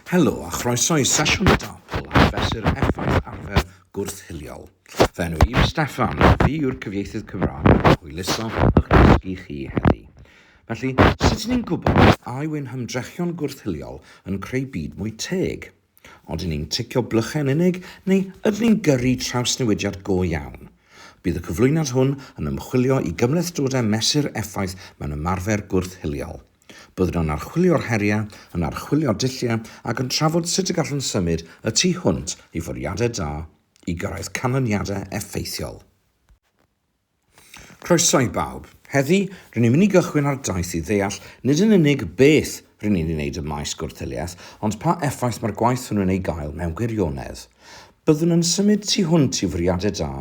Helo a chroeso i sesiwn y DARPL ar fesur effaith arfer gwrth-hiliol. Fy enw i yw Steffan, fi yw'r cyfieithydd Cymraeg a hwyluso ych dysgu chi heddi. Felly, sut ni'n gwybod a yw'n hymdrechion gwrth-hiliol yn creu byd mwy teg? Ydyn ni'n ticio blychau yn unig, neu ydyn ni'n gyrru trawsnewidiad go iawn? Bydd y cyflwyniad hwn yn ymchwilio i gymhlethdodau mesur effaith mewn ymarfer gwrth-hiliol. Byddwn yn archwilio'r heriau, yn archwilio dulliau ac yn trafod sut y gallwn symud y tu hwnt i fwriadau da i gyrraedd canlyniadau effeithiol. Croeso i bawb. Heddi, rŷn ni'n mynd i gychwyn ar daith i ddeall nid yn unig beth rŷn ni'n ei wneud ym maes gwrth-hiliaeth, ond pa effaith mae'r gwaith hwnnw'n ei gael mewn gwirionedd. Byddwn yn symud tu hwnt i fwriadau da,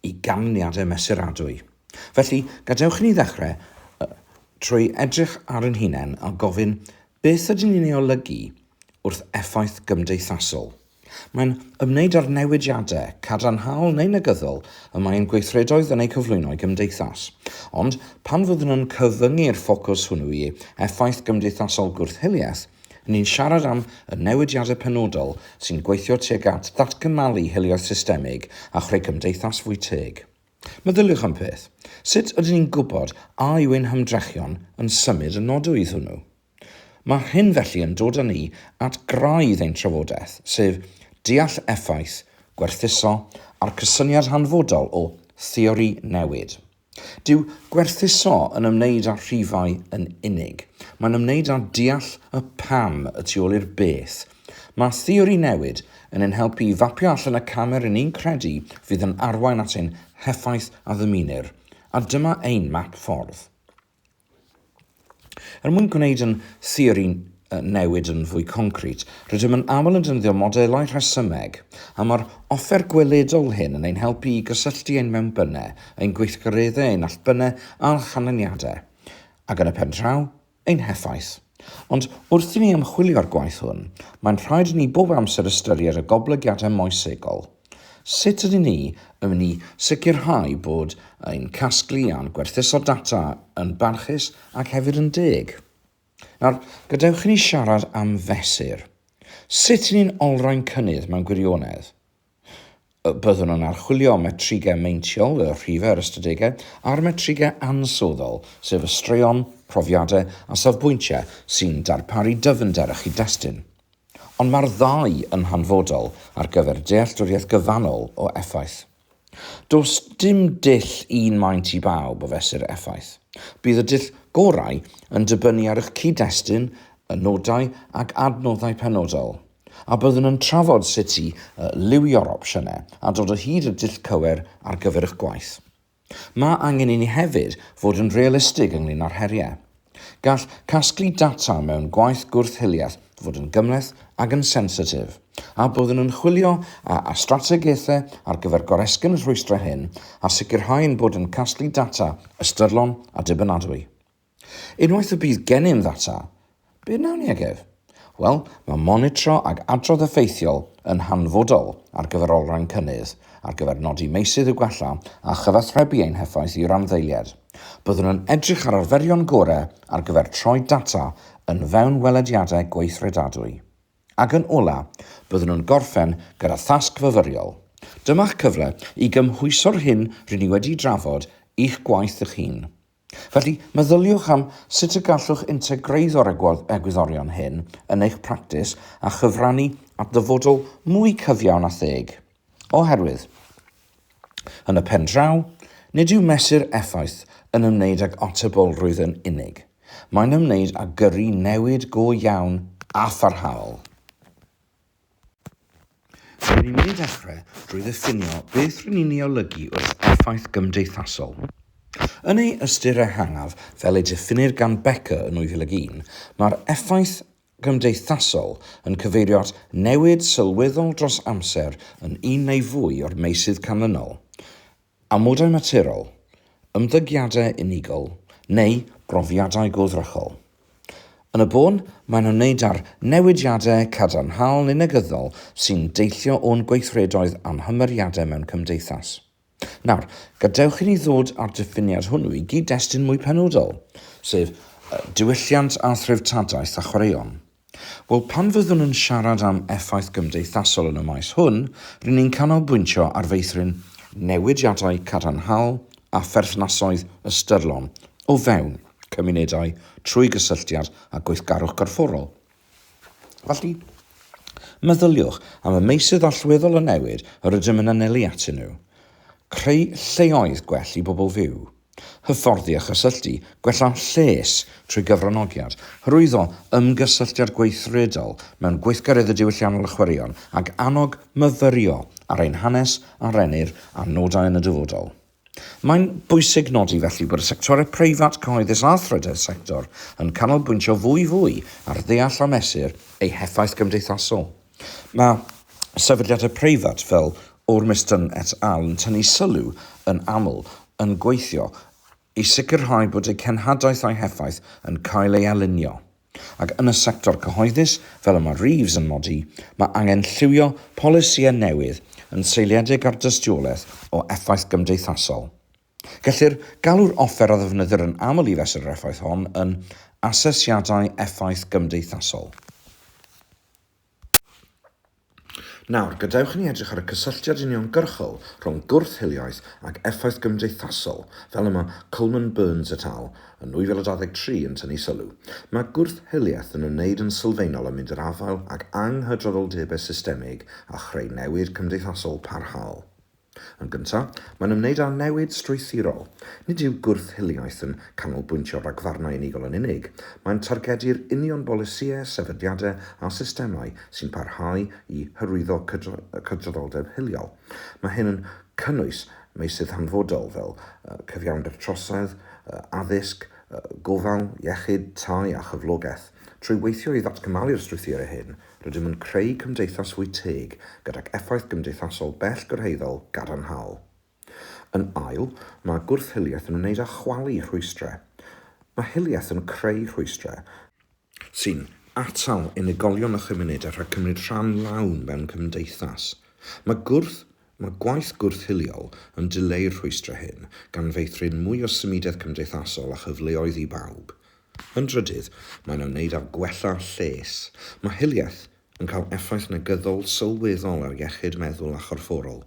i ganlyniadau mesuradwy. Felly, gadewch i ni ddechrau trwy edrych ar ein hunain a gofyn, beth ydyn ni'n ei olygu wrth effaith gymdeithasol? Mae'n ymwneud â'r newidiadau, cadarnhaol neu negyddol, y mae ein gweithredoedd yn eu cyflwyno i gymdeithas. Ond, pan fyddwn yn cyfyngu'r ffocws hwnnw i effaith gymdeithasol gwrth-hiliaeth, ni'n siarad am y newidiadau penodol sy'n gweithio tuag at ddatgymalu hiliaeth systemig a chreu cymdeithas fwy teg. Meddyliwch am peth, sut ydyn ni'n gwybod a yw ein hymdrechion yn symud y nodwydd hwnnw? Mae hyn felly yn dod â ni at graidd ein trafodaeth, sef deall effaith gwerthuso a'r cysyniad hanfodol o 'theori newid'. Dyw gwerthuso yn ymwneud â rhifau yn unig. Mae'n ymwneud â deall y 'pam' y tu ôl i'r 'beth'. Mae theori newid yn ein helpu i fapio allan y camau rŷn ni'n credu fydd yn arwain at ein heffaith a ddymunir, a dyma ein map ffordd. Er mwyn gwneud yn theori newid yn fwy concrit, rydym yn aml yn defnyddio modelau rhesymeg, a mae'r offer gweledol hyn yn ein helpu i gysylltu ein mewnbynnau, ein gweithgareddau, ein allbynnau a'n canlyniadau, ac yn y pen draw, ein heffaith. Ond wrth i ni ymchwilio'r gwaith hwn, mae'n rhaid i ni bob amser ystyried y goblygiadau moesegol. Sut ydyn ni yn mynd i sicrhau bod ein casglu a'n gwerthuso data yn barchus ac hefyd yn deg? Nawr, gadewch i ni siarad am fesur. Sut i ni'n olrhain cynnydd mewn gwirionedd? Byddwn yn archwilio metrigau meintiol, y rhifau a'r ystadegau, a'r metrigau ansoddol, sef y straeon, profiadau a safbwyntiau sy'n darparu dyfnder a chyd-destun. Ond mae'r ddau yn hanfodol ar gyfer dealltwriaeth gyfannol o effaith. Does dim dull un maint i bawb o fesur effaith. Bydd y dull gorau yn dibynnu ar eich cyd-destun, y nodau ac adnoddau penodol, a byddwn yn trafod sut i lywio'r opsiynau a dod o hyd i'r dull cywir ar gyfer eich gwaith. Mae angen i ni hefyd fod yn realistig ynglŷn â'r heriau. Gall casglu data mewn gwaith gwrth-hiliaeth fod yn gymhleth ac yn sensitif, a byddwn yn chwilio a a strategaethau ar gyfer goresgyn y rhwystrau hyn a sicrhau ein bod yn casglu data ystyrlon a dibynadwy. Unwaith y bydd gennym ddata, be wnawn ni ag ef? Wel, mae monitro ac adrodd effeithiol yn hanfodol ar gyfer olrhain cynnydd, ar gyfer nodi meysydd i'w gwella a chyfathrebu ein heffaith i randdeiliaid. Byddwn yn edrych ar arferion gorau ar gyfer troi data yn fewnwelediadau gweithredadwy. Ac yn ola', byddwn yn gorffen gyda thasg fyfyriol. Dyma'ch cyfle i gymhwyso'r hyn rŷn ni wedi'i drafod i'ch gwaith eich hun. Felly, meddyliwch am sut y gallwch integreiddio'r egwyddorion hyn yn eich practis a chyfrannu at ddyfodol mwy cyfiawn a theg. Oherwydd, yn y pen draw, nid yw mesur effaith yn ymwneud ag atebolrwydd yn unig, mae'n ymwneud â gyrru newid go iawn a pharhaol. Rwy'n mynd i ddechrau drwy ddiffinio beth rŷn ni'n ei olygu wrth effaith gymdeithasol. Yn ei ystyr ehangaf, fel ei diffinnir gan Becker yn 2001, mae'r effaith gymdeithasol yn cyfeirio at newid sylweddol dros amser yn un neu fwy o'r meysydd canlynol, Amodau materol, ymddygiadau unigol neu brofiadau goddrychol. Yn y bôn, mae'n ymwneud â'r newidiadau cadarnhaol neu negyddol sy'n deillio o'n gweithredoedd a'n hymyriadau mewn cymdeithas. Nawr, gadewch i ni ddod â'r diffiniad hwnnw i gyd-destun mwy penodol, sef diwylliant a threftadaeth a chwaraeon. Wel, pan fyddwn yn siarad am effaith gymdeithasol yn y maes hwn, ry'n ni'n canolbwyntio ar feithrin newidiadau cadarnhaol a pherthnasoedd ystyrlon o fewn cymunedau trwy gysylltiad â gweithgarwch gorfforol. Felly, meddyliwch am y meysydd allweddol o newid yr ydym yn anelu atyn nhw, creu lleoedd gwell i bobl fyw, hyfforddi a chysylltu, gwella lles trwy gyfranogiad, hyrwyddo ymgysylltiad gweithredol mewn gweithgareddau diwylliannol a chwaraeon, ac annog myfyrio ar ein hanes a rennir ar nodau yn y dyfodol. Mae'n bwysig nodi felly bod y sectorau preifat, cyhoeddus a thrydedd sector yn canolbwyntio fwyfwy ar ddeall a mesur eu heffaith gymdeithasol. Mae sefydliadau preifat fel Ormiston et al yn tynnu sylw yn aml yn gweithio i sicrhau bod eu cenhadaeth a'u heffaith yn cael ei alinio. Ac yn y sector cyhoeddus, fel y mae Reeves yn nodi, mae angen lliwio polisïau newydd yn seiliedig ar dystiolaeth o effaith gymdeithasol. Gellir galw'r offer a ddefnyddir yn aml i fesur yr effaith hon yn asesiadau effaith gymdeithasol. Nawr, gadewch i ni edrych ar y cysylltiad uniongyrchol rhwng gwrth-hiliaeth ac effaith gymdeithasol, fel y mae Coleman Burns et al. Yn 2023 yn tynnu sylw. Mae gwrth-hiliaeth yn ymwneud yn sylfaenol â mynd i'r afael ag anghydraddoldebau systemig a chreu newid cymdeithasol parhaol. Yn gyntaf, mae'n ymwneud â newid strwythurol. Nid yw gwrth-hiliaeth yn canolbwyntio ar ragfarnau unigol yn unig, mae'n targedu'r union bolisïau, sefydliadau a systemau sy'n parhau i hyrwyddo cydraddoldeb hiliol. Mae hyn yn cynnwys meysydd hanfodol fel cyfiawnder trosedd, addysg, gofal, iechyd, tai a chyflogaeth. Trwy weithio i ddatgymalu'r strwythurau hyn, Rydym yn creu cymdeithas fwy teg gydag effaith gymdeithasol bell gyrhaeddol gadarnhaol. Yn ail, mae gwrth-hiliaeth yn ymwneud â chwalu rhwystrau. Mae hiliaeth yn creu rhwystrau, sy'n atal unigolion a chymunedau rhag cymryd rhan lawn mewn cymdeithas. Mae gwrth, mae gwaith gwrth-hiliol yn dileu'r rhwystrau hyn, gan feithrin mwy o symudedd cymdeithasol a chyfleoedd i bawb. Yn drydydd, mae'n ymwneud â gwella lles. Mae hiliaeth yn cael effaith negyddol sylweddol ar iechyd meddwl a chorfforol.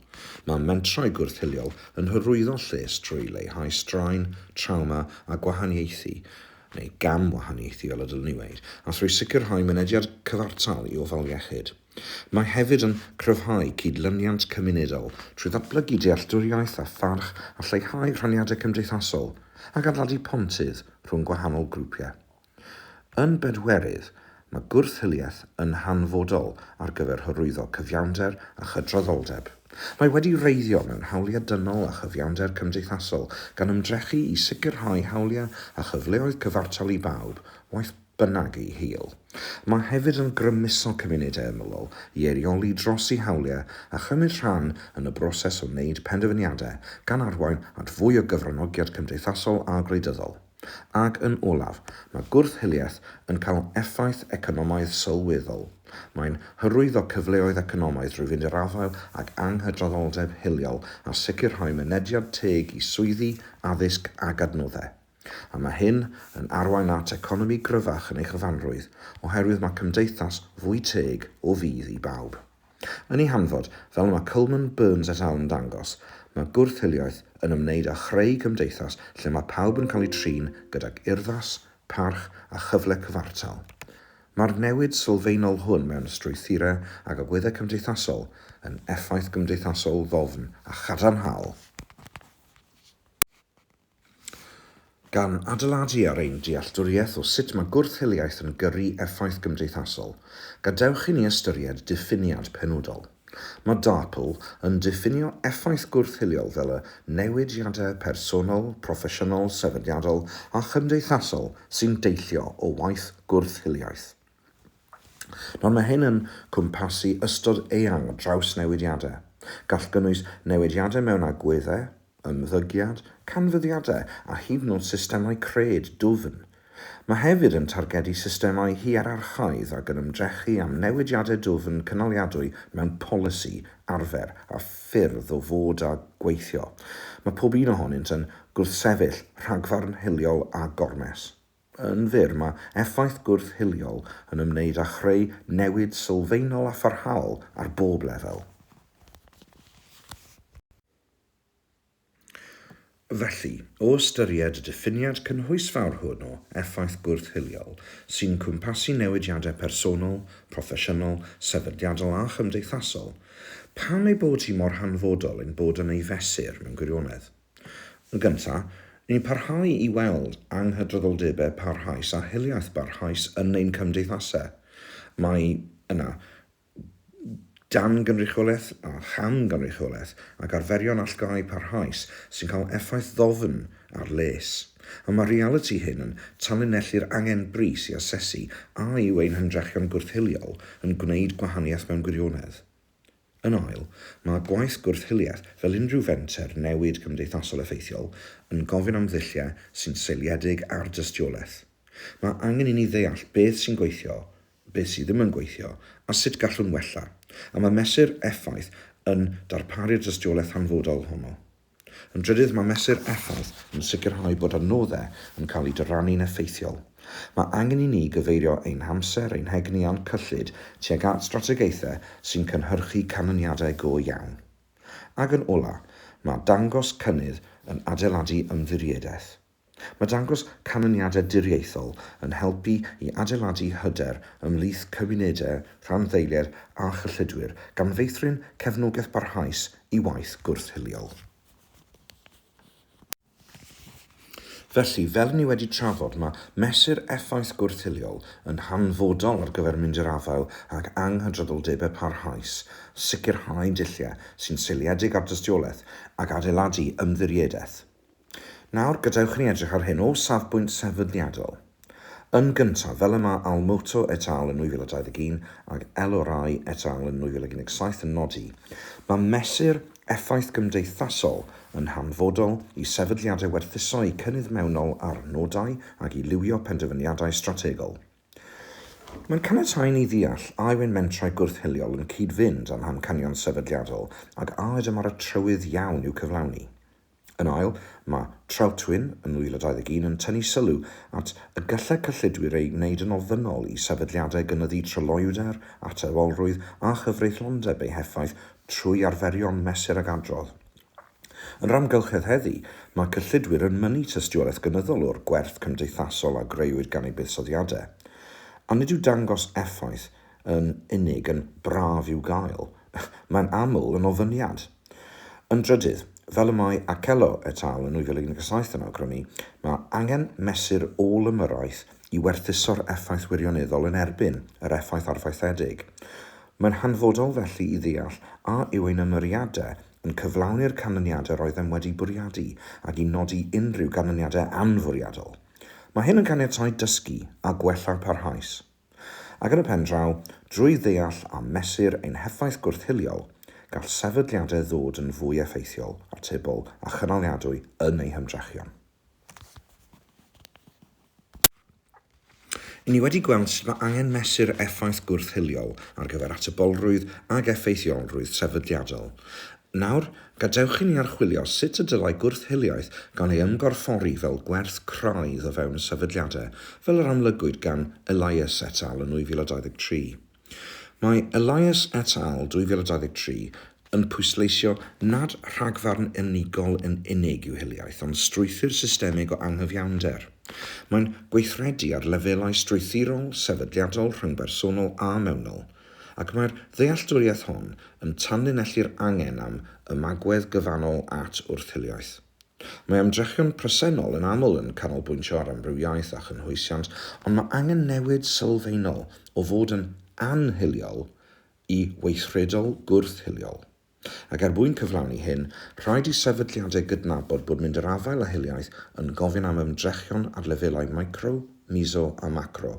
Mae mentrau gwrth-hiliol yn hyrwyddo lles trwy leihau straen, trawma a gwahaniaethu, neu gam-wahaniaethu fel y dylwn i weud, a thrwy sicrhau mynediad cyfartal i ofal iechyd. Mae hefyd yn cryfhau cydlyniant cymunedol trwy ddatblygu dealltwriaeth a pharch a lleihau rhaniadau cymdeithasol ac adeiladu pontydd rhwng gwahanol grwpiau. Yn bedwerydd, mae gwrth-hiliaeth yn hanfodol ar gyfer hyrwyddo cyfiawnder a chydraddoldeb. Mae wedi wreiddio mewn hawliau dynol a chyfiawnder cymdeithasol gan ymdrechu i sicrhau hawliau a chyfleoedd cyfartal i bawb, waeth bynnag ei hil. Mae hefyd yn grymuso cymunedau ymylol i eirioli dros eu hawliau a chymryd rhan yn y broses o wneud penderfyniadau, gan arwain at fwy o gyfranogiad cymdeithasol a gwleidyddol. Ac yn olaf, mae gwrth-hiliaeth yn cael effaith economaidd sylweddol. Mae'n hyrwyddo cyfleoedd economaidd drwy fynd i'r afael ag anghydraddoldeb hiliol a sicrhau mynediad teg i swyddi, addysg ac adnoddau. A mae hyn yn arwain at economi gryfach yn ei chyfanrwydd, oherwydd mae cymdeithas fwy teg o fudd i bawb. Yn ei hanfod, fel y mae Coleman, Burns et al yn dangos, mae gwrth-hiliaeth yn ymwneud â chreu cymdeithas lle mae pawb yn cael eu trin gydag urddas, parch a chyfle cyfartal. Mae'r newid sylfaenol hwn mewn strwythurau ac agweddau cymdeithasol yn effaith gymdeithasol ddofn a chadarnhaol. gan adeiladu ar ein dealltwriaeth o sut mae gwrth-hiliaeth yn gyrru effaith gymdeithasol, gadewch i ni ystyried diffiniad penodol. Mae DARPL yn diffinio effaith gwrth-hiliol fel y newidiadau personol, proffesiynol, sefydliadol a chymdeithasol sy'n deillio o waith gwrth-hiliaeth. Nawr, mae hyn yn cwmpasu ystod eang o drawsnewidiadau. Gall gynnwys newidiadau mewn agweddau, ymddygiad, canfyddiadau a hyd yn oed systemau cred dwfn. Mae hefyd yn targedu systemau hierarchaidd ac yn ymdrechu â newidiadau dwfn cynaliadwy mewn polisi, arfer a ffyrdd o fod a gweithio. Mae pob un ohonynt yn gwrthsefyll rhagfarn hiliol a gormes. Yn fyr, mae effaith gwrth-hiliol yn ymwneud â chreu newid sylfaenol a pharhaol ar bob lefel. Felly, o ystyried y diffiniad cynhwysfawr hwn o effaith gwrth-hiliol, sy'n cwmpasu newidiadau personol, proffesiynol, sefydliadol a chymdeithasol, pam ei bod hi mor hanfodol ein bod yn ei fesur mewn gwirionedd? Yn gyntaf, ni'n parhau i weld anghydraddoldebau parhaus a hiliaeth barhaus yn ein cymdeithasau. Mae yna dan-gynrychiolaeth a cham-gynrychiolaeth ac arferion allgáu parhaus sy'n cael effaith ddofn ar les, a mae'r realiti hyn yn tanlinellu'r angen brys i asesu a yw ein hymdrechion gwrth-hiliol yn gwneud gwahaniaeth mewn gwirionedd. Yn ail, mae gwaith gwrth-hiliaeth, fel unrhyw fenter newid cymdeithasol effeithiol, yn gofyn am ddulliau sy'n seiliedig ar dystiolaeth. Mae angen i ni ddeall beth sy'n gweithio, beth sydd ddim yn gweithio, a sut gallwn wella, a mae mesur effaith yn darparu'r dystiolaeth hanfodol honno. Yn drydydd, mae mesur effaith yn sicrhau bod adnoddau yn cael eu dyrannu'n effeithiol. Mae angen i ni gyfeirio ein hamser, ein hegni a'n cyllid tuag at strategaethau sy'n cynhyrchu canlyniadau go iawn. Ac yn olaf, mae dangos cynnydd yn adeiladu ymddiriedaeth. Mae dangos canlyniadau diriaethol yn helpu i adeiladu hyder ymhlith cymunedau rhanddeiliaid a chyllidwyr, gan feithrin cefnogaeth barhaus i waith gwrth-hiliol. Felly, fel ni wedi trafod, mae mesur effaith gwrth-hiliol yn hanfodol ar gyfer mynd i'r afael ag anghydraddoldebau parhaus, sicrhau dulliau sy'n seiliedig ar dystiolaeth, ac adeiladu ymddiriedaeth. Nawr, gadewch i ni edrych ar hyn o safbwynt sefydliadol. Yn gyntaf, fel y mae Almoto et al. Yn 2021 ac Elorrai et al. Yn 2017 yn nodi, mae mesur effaith gymdeithasol yn hanfodol i sefydliadau werthuso eu cynnydd mewnol ar nodau ac i liwio penderfyniadau strategol. Mae'n caniatáu i ni ddeall a yw ein mentrau gwrth-hiliol yn cyd-fynd â'n hamcanion sefydliadol ac a ydym ar y trywydd iawn i'w cyflawni. Yn ail, mae Trautwyn yn 2021 yn tynnu sylw at y gallai cyllidwyr ei wneud yn ofynnol i sefydliadau gynyddu tryloywder, atebolrwydd a chyfreithlondeb eu heffaith trwy arferion mesur ag adrodd. Yn yr amgylchedd heddi, mae cyllidwyr yn mynnu tystiolaeth gynyddol o'r gwerth cymdeithasol a greuwyd gan eu buddsoddiadau. A nid yw dangos effaith yn unig yn braf i'w gael, mae'n aml yn ofyniad. Yn drydydd, fel y mae Akello et al. Yn 2017 yn awgrymu, mae angen mesur ôl-ymyrraeth i werthuso'r effaith wirioneddol yn erbyn yr effaith arfaethedig. Mae'n hanfodol felly i ddeall a yw ein ymyriadau yn cyflawni'r canlyniadau roeddem wedi bwriadu ac i nodi unrhyw ganlyniadau anfwriadol. Mae hyn yn caniatáu dysgu a gwella parhaus. Ac yn y pen draw, drwy ddeall a mesur ein heffaith gwrth-hiliol, gall sefydliadau ddod yn fwy effeithiol, atebol a chynaliadwy yn eu hymdrechion. Ry'n ni wedi gweld sut mae angen mesur effaith gwrth-hiliol ar gyfer atebolrwydd ac effeithiolrwydd sefydliadol, Nawr, gadewch i ni archwilio sut y dylai gwrth-hiliaeth gael ei ymgorffori fel gwerth craidd o fewn sefydliadau, fel yr amlygwyd gan Elias et al. Yn 2023. Mae Elias et al. 2023 yn pwysleisio nad rhagfarn unigol yn unig yw hiliaeth, ond strwythur systemig o anghyfiawnder. Mae'n gweithredu ar lefelau strwythurol, sefydliadol, rhyngbersonol a mewnol. Ac mae'r ddealltwriaeth hon yn tanlinellu'r angen am ymagwedd gyfannol at wrth-hiliaeth. Mae ymdrechion presennol yn aml yn canolbwyntio ar amrywiaeth a chynhwysiant, ond mae angen newid sylfaenol o fod yn anhiliol i weithredol gwrth-hiliol. Ac er mwyn cyflawni hyn, rhaid i sefydliadau gydnabod bod mynd yr afael â hiliaeth yn gofyn am ymdrechion ar lefelau micro, miso a macro.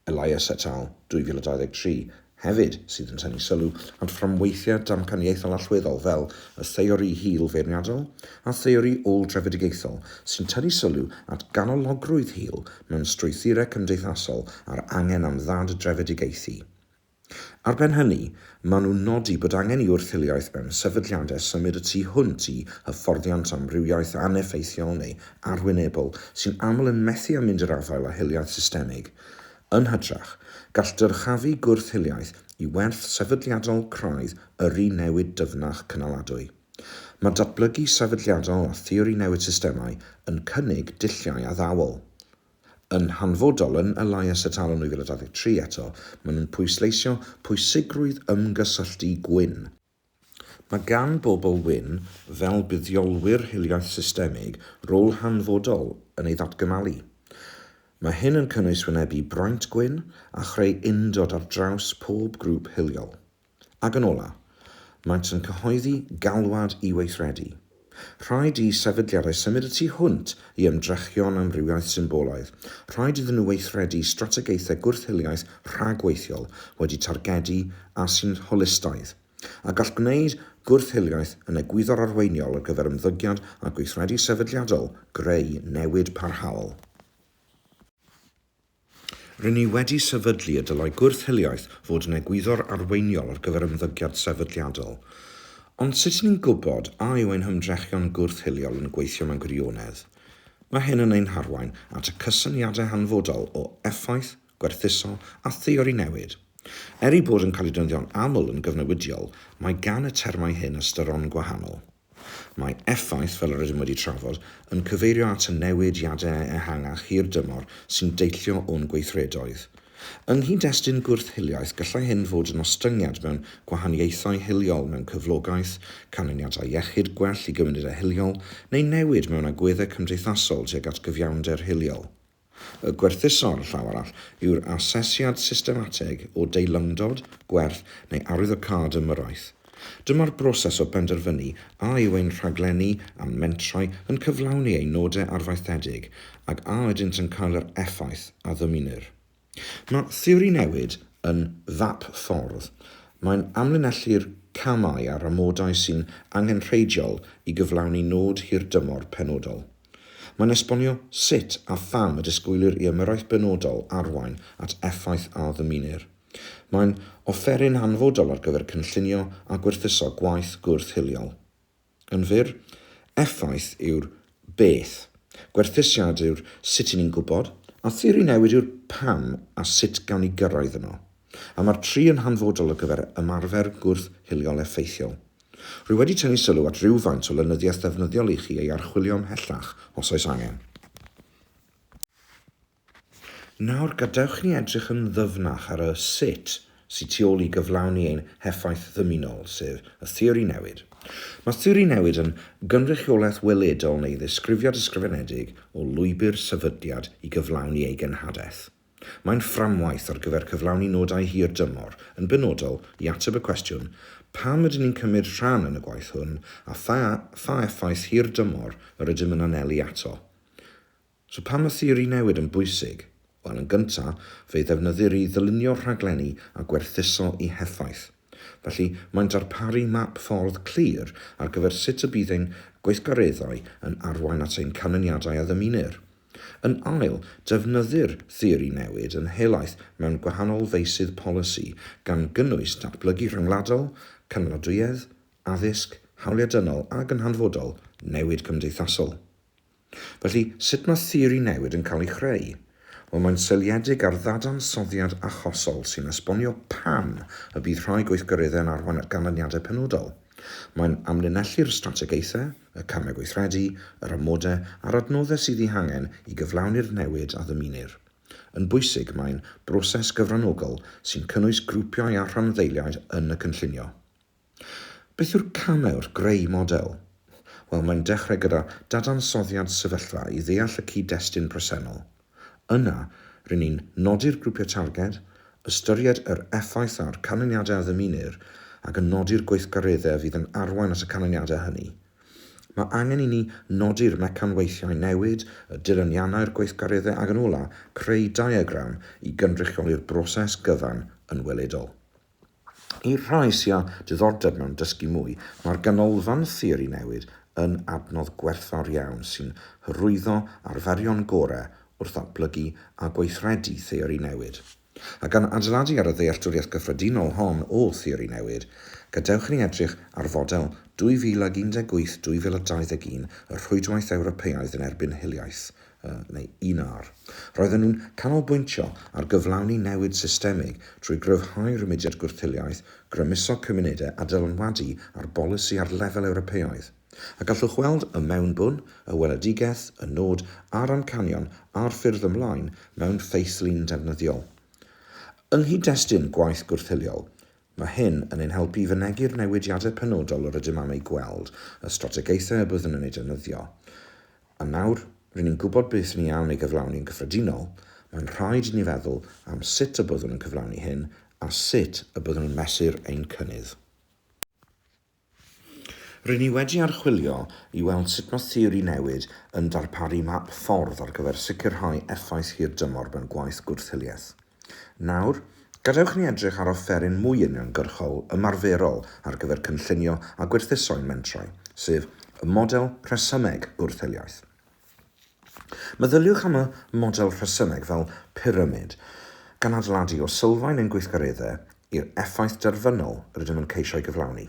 Elias et al, 2023, hefyd, sydd yn tynnu sylw at fframweithiau damcaniaethol allweddol fel y theori hil feirniadol a theori ôl-drefedigaethol sy'n tynnu sylw at ganologrwydd hil mewn strwythurau cymdeithasol a'r angen am ddad-drefedigaethu. Ar ben hynny, maen nhw'n nodi bod angen i wrth-hiliaeth mewn sefydliadau symud y tu hwnt i hyfforddiant amrywiaeth aneffeithiol neu arwynebol sy'n aml yn methu â mynd i'r afael â hiliaeth systemig. Yn hytrach, gall dyrchafu gwrth-hiliaeth i werth sefydliadol craidd yrru newid dyfnach cynaladwy. Mae datblygu sefydliadol a theori newid systemau yn cynnig dulliau addawol. Yn hanfodol, yn y lais atal yn 2023 eto, maen nhw'n pwysleisio pwysigrwydd ymgysylltu gwyn. Mae gan bobl wyn, fel buddiolwyr hiliaeth systemig, rôl hanfodol yn ei ddatgymalu. Mae hyn yn cynnwys wynebu braint gwyn a chreu undod ar draws pob grŵp hiliol. Ac yn ola', maent yn cyhoeddi galwad i weithredu. Rhaid i sefydliadau symud y tu hwnt i ymdrechion amrywiaeth symbolaidd, rhaid iddyn nhw weithredu strategaethau gwrth-hiliaeth rhagweithiol wedi targedu a sy'n holistaidd, a gall gwneud gwrth-hiliaeth yn egwyddor arweiniol ar gyfer ymddygiad a gweithredu sefydliadol greu newid parhaol. Ry'n ni wedi sefydlu y dylai gwrth-hiliaeth fod yn egwyddor arweiniol ar gyfer ymddygiad sefydliadol. Ond sut ry'n ni'n gwybod a yw ein hymdrechion gwrth-hiliol yn gweithio mewn gwirionedd? Mae hyn yn ein harwain at y cysyniadau hanfodol o effaith, gwerthuso a theori newid. Er eu bod yn cael eu defnyddio'n aml yn gyfnewidiol, mae gan y termau hyn ystyron gwahanol. Mae effaith, fel yr ydym wedi trafod, yn cyfeirio at y newidiadau ehangach hir-dymor sy'n deillio o'n gweithredoedd. Yng nghyd-destun gwrth-hiliaeth, gallai hyn fod yn ostyngiad mewn gwahaniaethau hiliol mewn cyflogaeth, canlyniadau iechyd gwell i gymunedau hiliol, neu newid mewn agweddau cymdeithasol tuag at gyfiawnder hiliol. Y gwerthuso'r llaw arall yw'r asesiad systematig o deilymdod, gwerth neu arwyddocâd ymyrraeth. Dyma'r broses o benderfynu a yw ein rhaglenni a'n mentrau yn cyflawni ein nodau arfaethedig ac a ydynt yn cael yr effaith a ddymunir. Mae theori newid yn fap ffordd. Mae'n amlinellu'r camau a'r amodau sy'n angenrheidiol i gyflawni nod hirdymor penodol. Mae'n esbonio sut a pham y disgwylir i ymyrraeth benodol arwain at effaith a ddymunir. Mae'n offeryn hanfodol ar gyfer cynllunio a gwerthuso gwaith gwrth-hiliol. Yn fyr, effaith yw'r 'beth', gwerthusiad yw'r 'sut' i ni'n gwybod, a theori newid yw'r 'pam' a 'sut' gawn ni gyrraedd yno. A mae'r tri yn hanfodol ar gyfer ymarfer gwrth-hiliol effeithiol. Rwy wedi tynnu sylw at rywfaint o lenyddiaeth ddefnyddiol i chi ei archwilio ymhellach, os oes angen. Nawr, gadewch i ni edrych yn ddyfnach ar y 'sut' sydd tu ôl i gyflawni ein heffaith ddymunol, sef y theori newid. Mae theori newid yn gynrychiolaeth weledol neu ddisgrifiad ysgrifenedig o lwybr sefydliad i gyflawni ei genhadaeth. Mae'n fframwaith ar gyfer cyflawni nodau hir dymor, yn benodol, i ateb y cwestiwn, pam ydyn ni'n cymryd rhan yn y gwaith hwn a pha pha effaith hir dymor yr ydym yn anelu ato. So pam mae theori newid yn bwysig? Wel, yn gyntaf, fe'i ddefnyddir i ddylunio rhaglenni a gwerthuso eu heffaith. Felly, mae'n darparu map ffordd clir ar gyfer sut y bydd ein gweithgareddau yn arwain at ein canlyniadau a ddymunir. Yn ail, defnyddir theori newid yn helaeth mewn gwahanol feysydd polisi, gan gynnwys datblygu rhyngwladol, cynaladwyedd, addysg, hawliau dynol ac yn hanfodol, newid cymdeithasol. Felly, sut mae theori newid yn cael ei chreu? Wel, mae'n seiliedig ar ddadansoddiad achosol sy'n esbonio pam y bydd rhai gweithgareddau'n arwain at ganlyniadau penodol. Mae'n amlinellu'r strategaethau, y camau gweithredu, yr amodau a'r adnoddau sydd eu hangen i gyflawni'r newid a ddymunir. Yn bwysig, mae'n broses gyfranogol sy'n cynnwys grwpiau a rhanddeiliaid yn y cynllunio. Beth yw'r camau wrth greu model? Wel, mae'n dechrau gyda dadansoddiad sefyllfa i ddeall y cyd-destun presennol. Yna, ry'n ni'n nodi'r grwpiau targed, ystyried yr effaith a'r canlyniadau a ddymunir, ac yn nodi'r gweithgareddau fydd yn arwain at y canlyniadau hynny. Mae angen i ni nodi'r mecanweithiau newid, y dilyniannau'r gweithgareddau ac yn ola', creu diagram i gynrychioli'r broses gyfan yn weledol. I'r rhai sy â diddordeb mewn dysgu mwy, mae'r Ganolfan Theori Newydd yn adnodd gwerthfawr iawn sy'n hyrwyddo arferion gorau wrth ddatblygu a gweithredu theori newid. A gan adeiladu ar y ddealltwriaeth gyffredinol hon o theori newid, gadewch i ni edrych ar fodel 2018-2021 y Rhwydwaith Ewropeaidd yn erbyn Hiliaeth neu UNAR. Roedden nhw'n canolbwyntio ar gyflawni newid systemig trwy gryfhau rhymudiad gwrthiliaeth, grymuso cymunedau a dylanwadu ar bolisi ar lefel Ewropeaidd. A gallwch weld y mewnbwn, y weledigaeth, y nod a'r amcanion a'r ffyrdd ymlaen mewn ffeithlun defnyddiol. Yng nghyd-destun gwaith gwrthiliol, Mae hyn yn ein helpu i fynegi'r newidiadau penodol yr ydym am eu gweld, y strategaethau y byddwn yn eu defnyddio, a nawr rŷn ni'n gwybod beth ni am ei gyflawni yn gyffredinol, mae'n rhaid i ni feddwl am sut y byddwn yn cyflawni hyn a sut y byddwn yn mesur ein cynnydd. Ry'n ni wedi archwilio i weld sut mae theori newid yn darparu map ffordd ar gyfer sicrhau effaith hirdymor mewn gwaith gwrth-hiliaeth. Nawr, gadewch i ni edrych ar offeryn mwy uniongyrchol, ymarferol ar gyfer cynllunio a gwerthuso'n mentrau, sef y model rhesymeg gwrth-hiliaeth. Meddyliwch am y model rhesymeg fel pyramid, gan adeiladu o sylfaen ein gweithgareddau i'r effaith derfynol rydym yn ceisio ei gyflawni.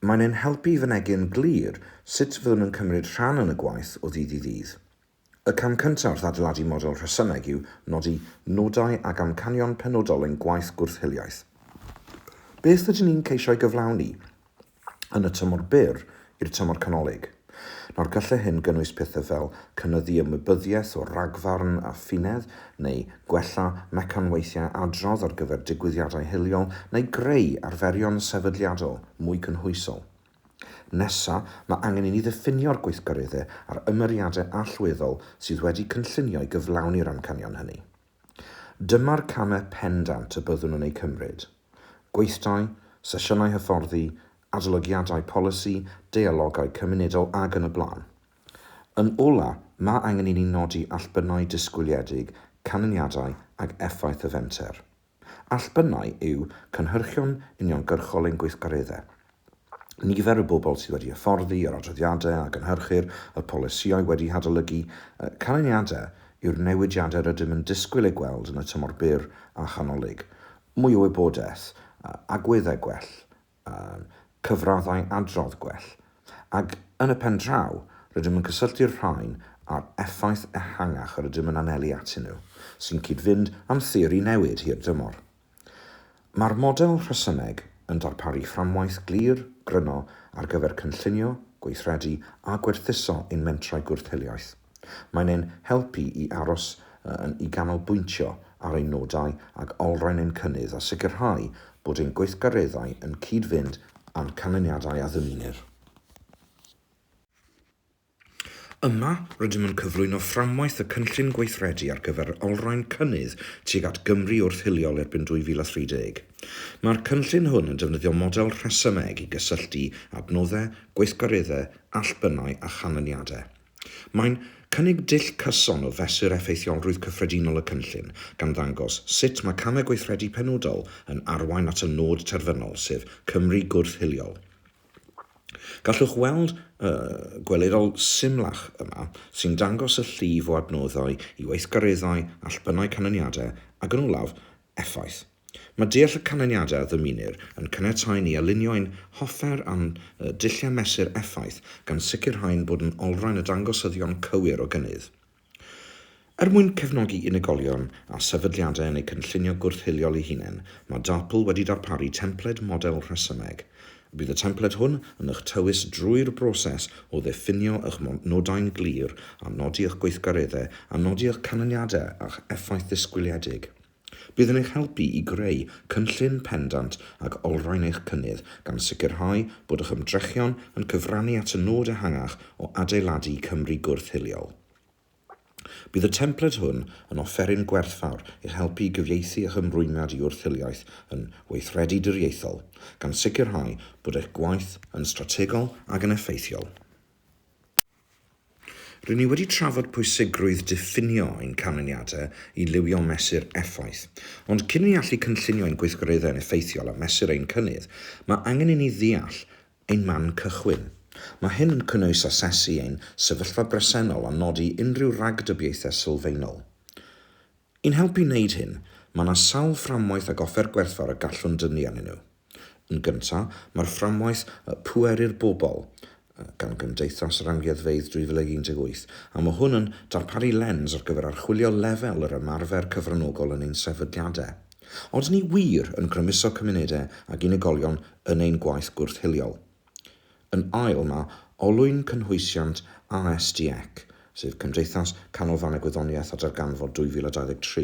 Mae'n ein helpu i fynegi'n glir sut fyddwn yn cymryd rhan yn y gwaith o ddydd i ddydd. Y cam cyntaf wrth adeiladu model rhesymeg yw nodi nodau ac amcanion penodol ein gwaith gwrth-hiliaeth. Beth ydyn ni'n ceisio ei gyflawni? yn y tymor byr i'r tymor canolig. Nawr, gallai hyn gynnwys pethau fel cynyddu ymwybyddiaeth o ragfarn a ffinedd, neu gwella mecanweithiau adrodd ar gyfer digwyddiadau hiliol, neu greu arferion sefydliadol mwy cynhwysol. Nesa, mae angen i ni ddiffinio'r gweithgareddau a'r ymyriadau allweddol sydd wedi cynllunio i gyflawni'r amcanion hynny. Dyma'r camau pendant y byddwn yn eu cymryd, gweithdai, sesiynau hyfforddi, adolygiadau polisi, deialogau cymunedol ac yn y blaen. Yn ola', mae angen i ni nodi allbynnau disgwyliedig, canlyniadau ac effaith y fenter. Allbynnau yw cynhyrchion uniongyrchol ein gweithgareddau. nifer y bobl sydd wedi hyfforddi yr adroddiadau a gynhyrchir y polisïau wedi hadolygu canlyniadau yw'r newidiadau rydym yn disgwyl eu gweld yn y tymor byr a chanolig, mwy o wybodaeth, agweddau gwell, cyfraddau adrodd gwell, ac yn y pen draw, rydym yn cysylltu'r rhain â'r effaith ehangach yr ydym yn anelu atyn nhw, sy'n cyd-fynd â'n theori newid hir dymor. Mae'r model rhesymeg yn darparu fframwaith glir, gryno ar gyfer cynllunio, gweithredu a gwerthuso ein mentrau gwrth-hiliaeth. Mae'n ein helpu i aros yn i ganolbwyntio ar ein nodau ac olrhain ein cynnydd a sicrhau bod ein gweithgareddau yn cyd-fynd â'n canlyniadau a ddymunir. Yma, rydym yn cyflwyno fframwaith y Cynllun Gweithredu ar gyfer olrhain cynnydd tuag at Gymru wrth hiliol erbyn 2030. Mae'r cynllun hwn yn defnyddio model rhesymeg i gysylltu adnoddau, gweithgareddau, allbynnau a chanlyniadau. Mae'n cynnig dull cyson o fesur effeithiolrwydd cyffredinol y cynllun, gan ddangos sut mae camau gweithredu penodol yn arwain at y nod terfynol, sef Cymru gwrth-hiliol. Gallwch weld y gwelirol symlach yma sy'n dangos y llif o adnoddau i weithgareddau, allbynnau canlyniadau ac yn olaf, effaith. Mae deall y canlyniadau a ddymunir yn caniatáu ni alinio ein hoffer â'n dulliau mesur effaith gan sicrhau'n bod yn olrhain y dangosyddion cywir o gynnydd. Er mwyn cefnogi unigolion a sefydliadau yn eu cynllunio gwrth-hiliol eu hunain, mae DARPL wedi darparu templed model rhesymeg. Bydd y templed hwn yn eich tywys drwy'r broses o ddiffinio eich nodau'n glir a nodi eich gweithgareddau a nodi eich canlyniadau a'ch effaith ddisgwyliedig. Bydd yn eich helpu i greu cynllun pendant ac olrhain eich cynnydd, gan sicrhau bod eich ymdrechion yn cyfrannu at y nod ehangach o adeiladu Cymru gwrth-hiliol. Bydd y templed hwn yn offeryn gwerthfawr i'ch helpu i gyfieithu eich ymrwymiad i wrth-hiliaeth yn weithredu diriaethol, gan sicrhau bod eich gwaith yn strategol ac yn effeithiol. Rŷn ni wedi trafod pwysigrwydd diffinio ein canlyniadau i liwio mesur effaith, ond cyn i ni allu cynllunio ein gweithgareddau'n effeithiol a mesur ein cynnydd, mae angen i ni ddeall ein man cychwyn. Mae hyn yn cynnwys asesu ein sefyllfa bresennol a nodi unrhyw ragdybiaethau sylfaenol. I'n helpu wneud hyn, mae yna sawl fframwaith ac offer gwerthfawr y gallwn dynnu arnyn nhw. Yn gyntaf, mae'r fframwaith Pŵer i'r Bobl gan Gymdeithas yr Amgueddfeydd 2018, a mae hwn yn darparu lens ar gyfer archwilio lefel yr ymarfer cyfranogol yn ein sefydliadau. Odyn ni wir yn grymuso cymunedau ac unigolion yn ein gwaith gwrth-hiliol? Yn ail, mae olwyn cynhwysiant ASDEC, sef Cymdeithas Canolfannau Gwyddoniaeth a Darganfod 2023.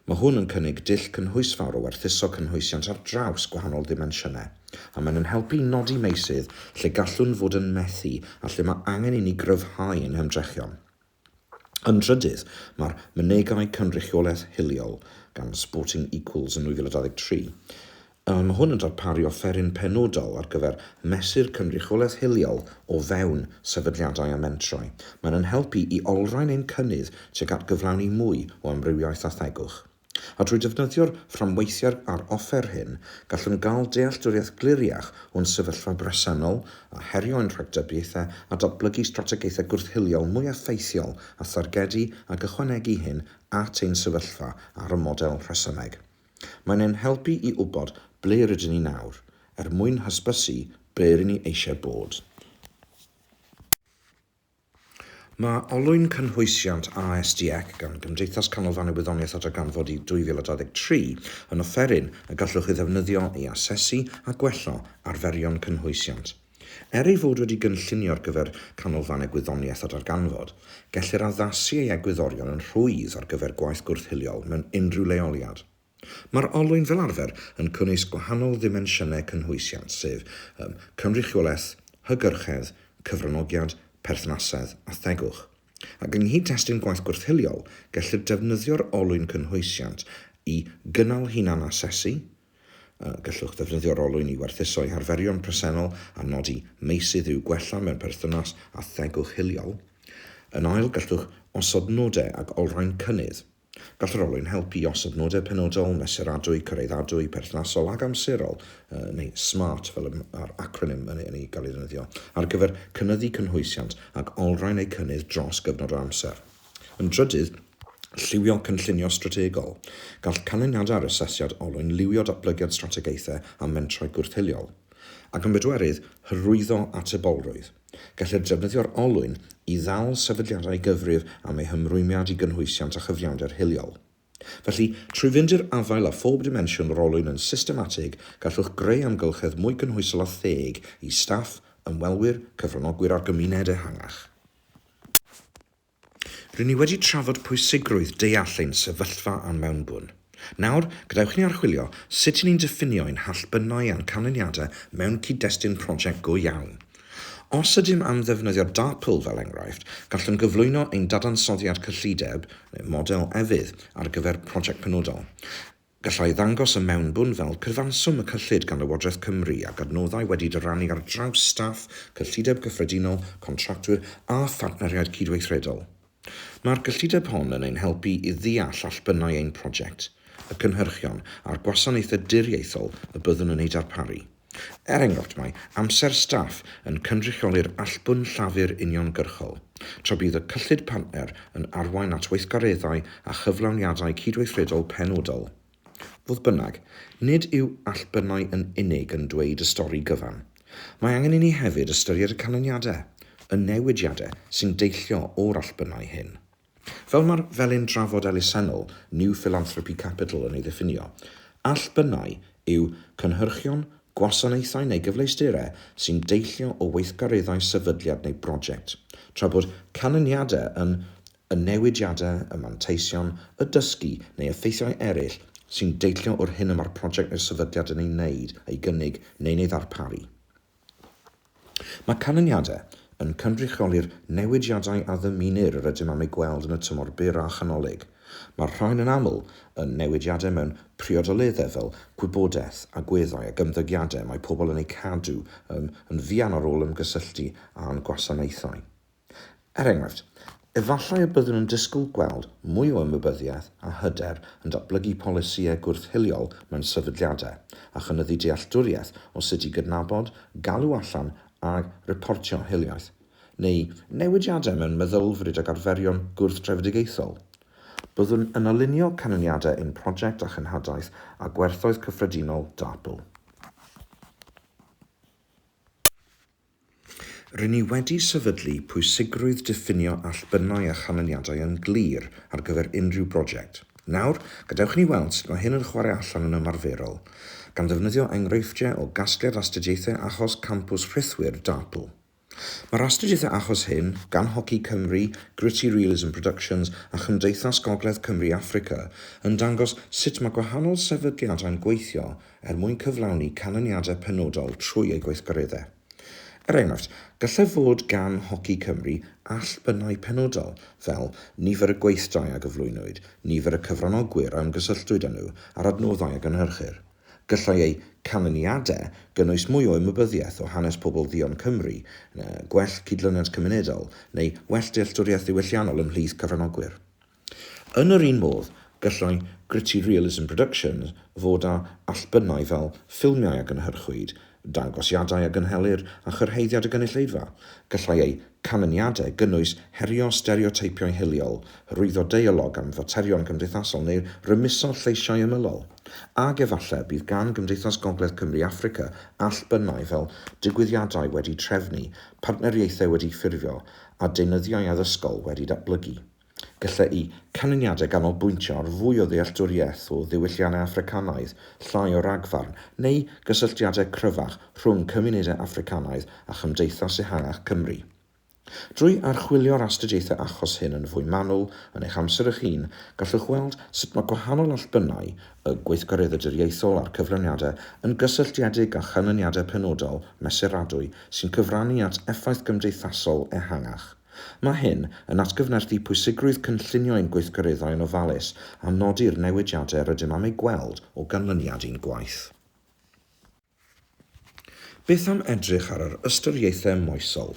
Mae hwn yn cynnig dull cynhwysfawr o werthuso cynhwysiant ar draws gwahanol ddimensiynau, a mae'n ein helpu i nodi meysydd lle gallwn fod yn methu a lle mae angen i ni gryfhau ein hymdrechion. Yn drydydd, mae'r Mynegai Cynrychiolaeth Hiliol gan Sporting Equals yn 2023. Yy mae hwn yn darparu offeryn penodol ar gyfer mesur cynrychiolaeth hiliol o fewn sefydliadau a mentrau. Mae'n ein helpu i olrhain ein cynnydd tuag at gyflawni mwy o amrywiaeth a thegwch. A drwy defnyddio'r fframweithiau a'r offer hyn, gallwn gael dealltwriaeth gliriach o'n sefyllfa bresennol a herio ein rhagdybiaethau a datblygu strategaethau gwrth-hiliol mwy effeithiol a thargedu ac ychwanegu hyn at ein sefyllfa ar y model rhesymeg. Mae'n ein helpu i wybod ble rydyn ni nawr, er mwyn hysbysu ble ry'n ni eisiau bod. Mae olwyn cynhwysiant ASDEC gan Gymdeithas Canolfan y Wyddoniaeth a Darganfod i 2023 yn offeryn y gallwch ei ddefnyddio i asesu a gwella arferion cynhwysiant. Er ei fod wedi gynllunio ar gyfer Canolfan y Gwyddoniaeth a Darganfod, gellir addasu ei egwyddorion yn rhwydd ar gyfer gwaith gwrth-hiliol mewn unrhyw leoliad. Mae'r olwyn fel arfer yn cynnwys gwahanol ddimensiynau cynhwysiant sef, yym, cynrychiolaeth, hygyrchedd, cyfranogiad, perthnasedd a thegwch. Ac yng nghyd-destun gwaith gwrth-hiliol, gellir defnyddio'r olwyn cynhwysiant i gynnal hunan-asesu, yy, gallwch ddefnyddio'r olwyn i werthuso eich arferion presennol a nodi meysydd i'w gwella mewn perthynas â thegwch hiliol. Yn ail, gallwch osod nodau ac olrhain cynnydd. Gall yr olwyn helpu i osod nodau penodol, mesuradwy, cyraeddadwy, perthnasol ac amserol, neu SMART fel y mae'r acronym yn ei gael ei ddefnyddio, ar gyfer cynyddu cynhwysiant ac olrhain eu cynnydd dros gyfnod o amser. Yn drydydd, lliwio cynllunio strategol. Gall canlyniadau ar asesiad olwyn liwio datblygiad strategaethau a mentrau gwrth-hiliol. Ac yn bedwerydd, hyrwyddo atebolrwydd. Gellir defnyddio'r olwyn i ddal sefydliadau gyfrif am eu hymrwymiad i gynhwysiant a chyfiawnder hiliol. Felly, trwy fynd i'r afael â phob dimensiwn o'r olwyn yn systematig, gallwch greu amgylchedd mwy cynhwysol a theg i staff, ymwelwyr, cyfranogwyr a'r gymuned ehangach. Ry'n ni wedi trafod pwysigrwydd deall ein sefyllfa a'n mewnbwn. Nawr, gadewch i ni archwilio sut i ni'n diffinio ein hallbynnau a'n canlyniadau mewn cyd-destun prosiect go iawn. Os ydym am ddefnyddio DARPL fel enghraifft, gallwn gyflwyno ein dadansoddiad cyllideb, neu model efydd, ar gyfer prosiect penodol. Gallai ddangos y mewnbwn fel cyfanswm y cyllid gan Lywodraeth Cymru ac adnoddau wedi dyrannu ar draws staff, cyllideb gyffredinol, contractwyr a phartneriaid cydweithredol. Mae'r gyllideb hon yn ein helpu i ddeall allbynnau ein prosiect, y cynhyrchion a'r gwasanaethau diriaethol y byddwn yn eu darparu. Er enghraifft, mae amser staff yn cynrychioli'r allbwn llafur uniongyrchol, tra bydd y cyllid partner yn arwain at weithgareddau a chyflawniadau cydweithredol penodol. Fodd bynnag, nid yw allbynnau yn unig yn dweud y stori gyfan. Mae angen i ni hefyd ystyried y canlyniadau, y newidiadau sy'n deillio o'r allbynnau hyn. Fel mae'r felin drafod elusennol New Philanthropy Capital yn ei ddiffinio, allbynnau yw cynhyrchion, gwasanaethau neu gyfleusterau sy'n deillio o weithgareddau sefydliad neu broject, tra bod canlyniadau yn y newidiadau, y manteision, y dysgu neu effeithiau eraill sy'n deillio o'r hyn y mae'r prosiect neu'r sefydliad yn ei wneud, ei gynnig neu'n ei ddarparu. Mae canlyniadau yn cynrychioli'r newidiadau a ddymunir yr ydym am eu gweld yn y tymor byr a chanolig. Mae'r rhain yn aml yn newidiadau mewn priodoleddau fel gwybodaeth, agweddau ac ymddygiadau y mae pobl yn eu cadw yn yn fuan ar ôl ymgysylltu â'n gwasanaethau. Er enghraifft, efallai y byddwn yn disgwyl gweld mwy o ymwybyddiaeth a hyder yn datblygu polisïau gwrth-hiliol mewn sefydliadau, a chynyddu dealltwriaeth o sut i gydnabod, galw allan a reportio hiliaeth, neu newidiadau mewn meddylfryd ac arferion gwrth-drefedigaethol. Byddwn yn alinio canlyniadau ein prosiect â chenhadaeth a gwerthoedd cyffredinol DARPL. Ry'n ni wedi sefydlu pwysigrwydd diffinio allbynnau a chanlyniadau yn glir ar gyfer unrhyw broject. Nawr, gadewch i ni weld sut mae hyn yn chwarae allan yn ymarferol, gan ddefnyddio enghreifftiau o gasgliad astudiaethau achos Campws Rhithwir, DARPL. Mae'r astudiaethau achos hyn, gan Hoci Cymru, Gritty Realism Productions a Chymdeithas Gogledd Cymru Affrica, yn dangos sut mae gwahanol sefydliadau'n gweithio er mwyn cyflawni canlyniadau penodol trwy eu gweithgareddau. Er enghraifft, gallai fod gan Hoci Cymru allbynnau penodol, fel nifer y gweithdai a gyflwynwyd, nifer y cyfranogwyr a ymgysylltwyd â nhw, a'r adnoddau a gynhyrchir. Gallai eu canlyniadau gynnwys mwy o ymwybyddiaeth o hanes pobl dduon Cymru, gwell cydlyniant cymunedol, neu well dealltwriaeth ddiwylliannol ymhlith cyfranogwyr. Yn yr un modd, gallai Gritty Realism Productions fod â allbynnau fel ffilmiau a gynhyrchwyd, dangosiadau a gynhelir a chyrhaeddiad y gynulleidfa. Gallai eu canlyniadau gynnwys herio stereoteipio hiliol, hyrwyddo deialog am faterion cymdeithasol neu rymuso lleisiau ymylol. Ac efallai bydd gan Gymdeithas Gogledd Cymru Affrica allbynnau fel digwyddiadau wedi trefnu, partneriaethau wedi ffurfio a deunyddiau addysgol wedi datblygu. Gallai canlyniadau ganolbwyntio ar fwy o ddealltwriaeth o ddiwylliannau Affricanaidd, llai o ragfarn, neu gysylltiadau cryfach rhwng cymunedau Affricanaidd a chymdeithas ehangach Cymru. Drwy archwilio'r astudiaethau achos hyn yn fwy manwl, yn eich amser eich hun, gallwch weld sut mae gwahanol allbynnau y gweithgareddaduriaethol a'r cyfraniadau yn gysylltiedig â chanlyniadau penodol mesuradwy sy'n cyfrannu at effaith gymdeithasol ehangach. Mae hyn yn atgyfnerthu pwysigrwydd cynllunio ein gweithgareddau yn ofalus a nodi'r newidiadau rydym am eu gweld o ganlyniad i'n gwaith. Beth am edrych ar yr ystyriaethau moesol?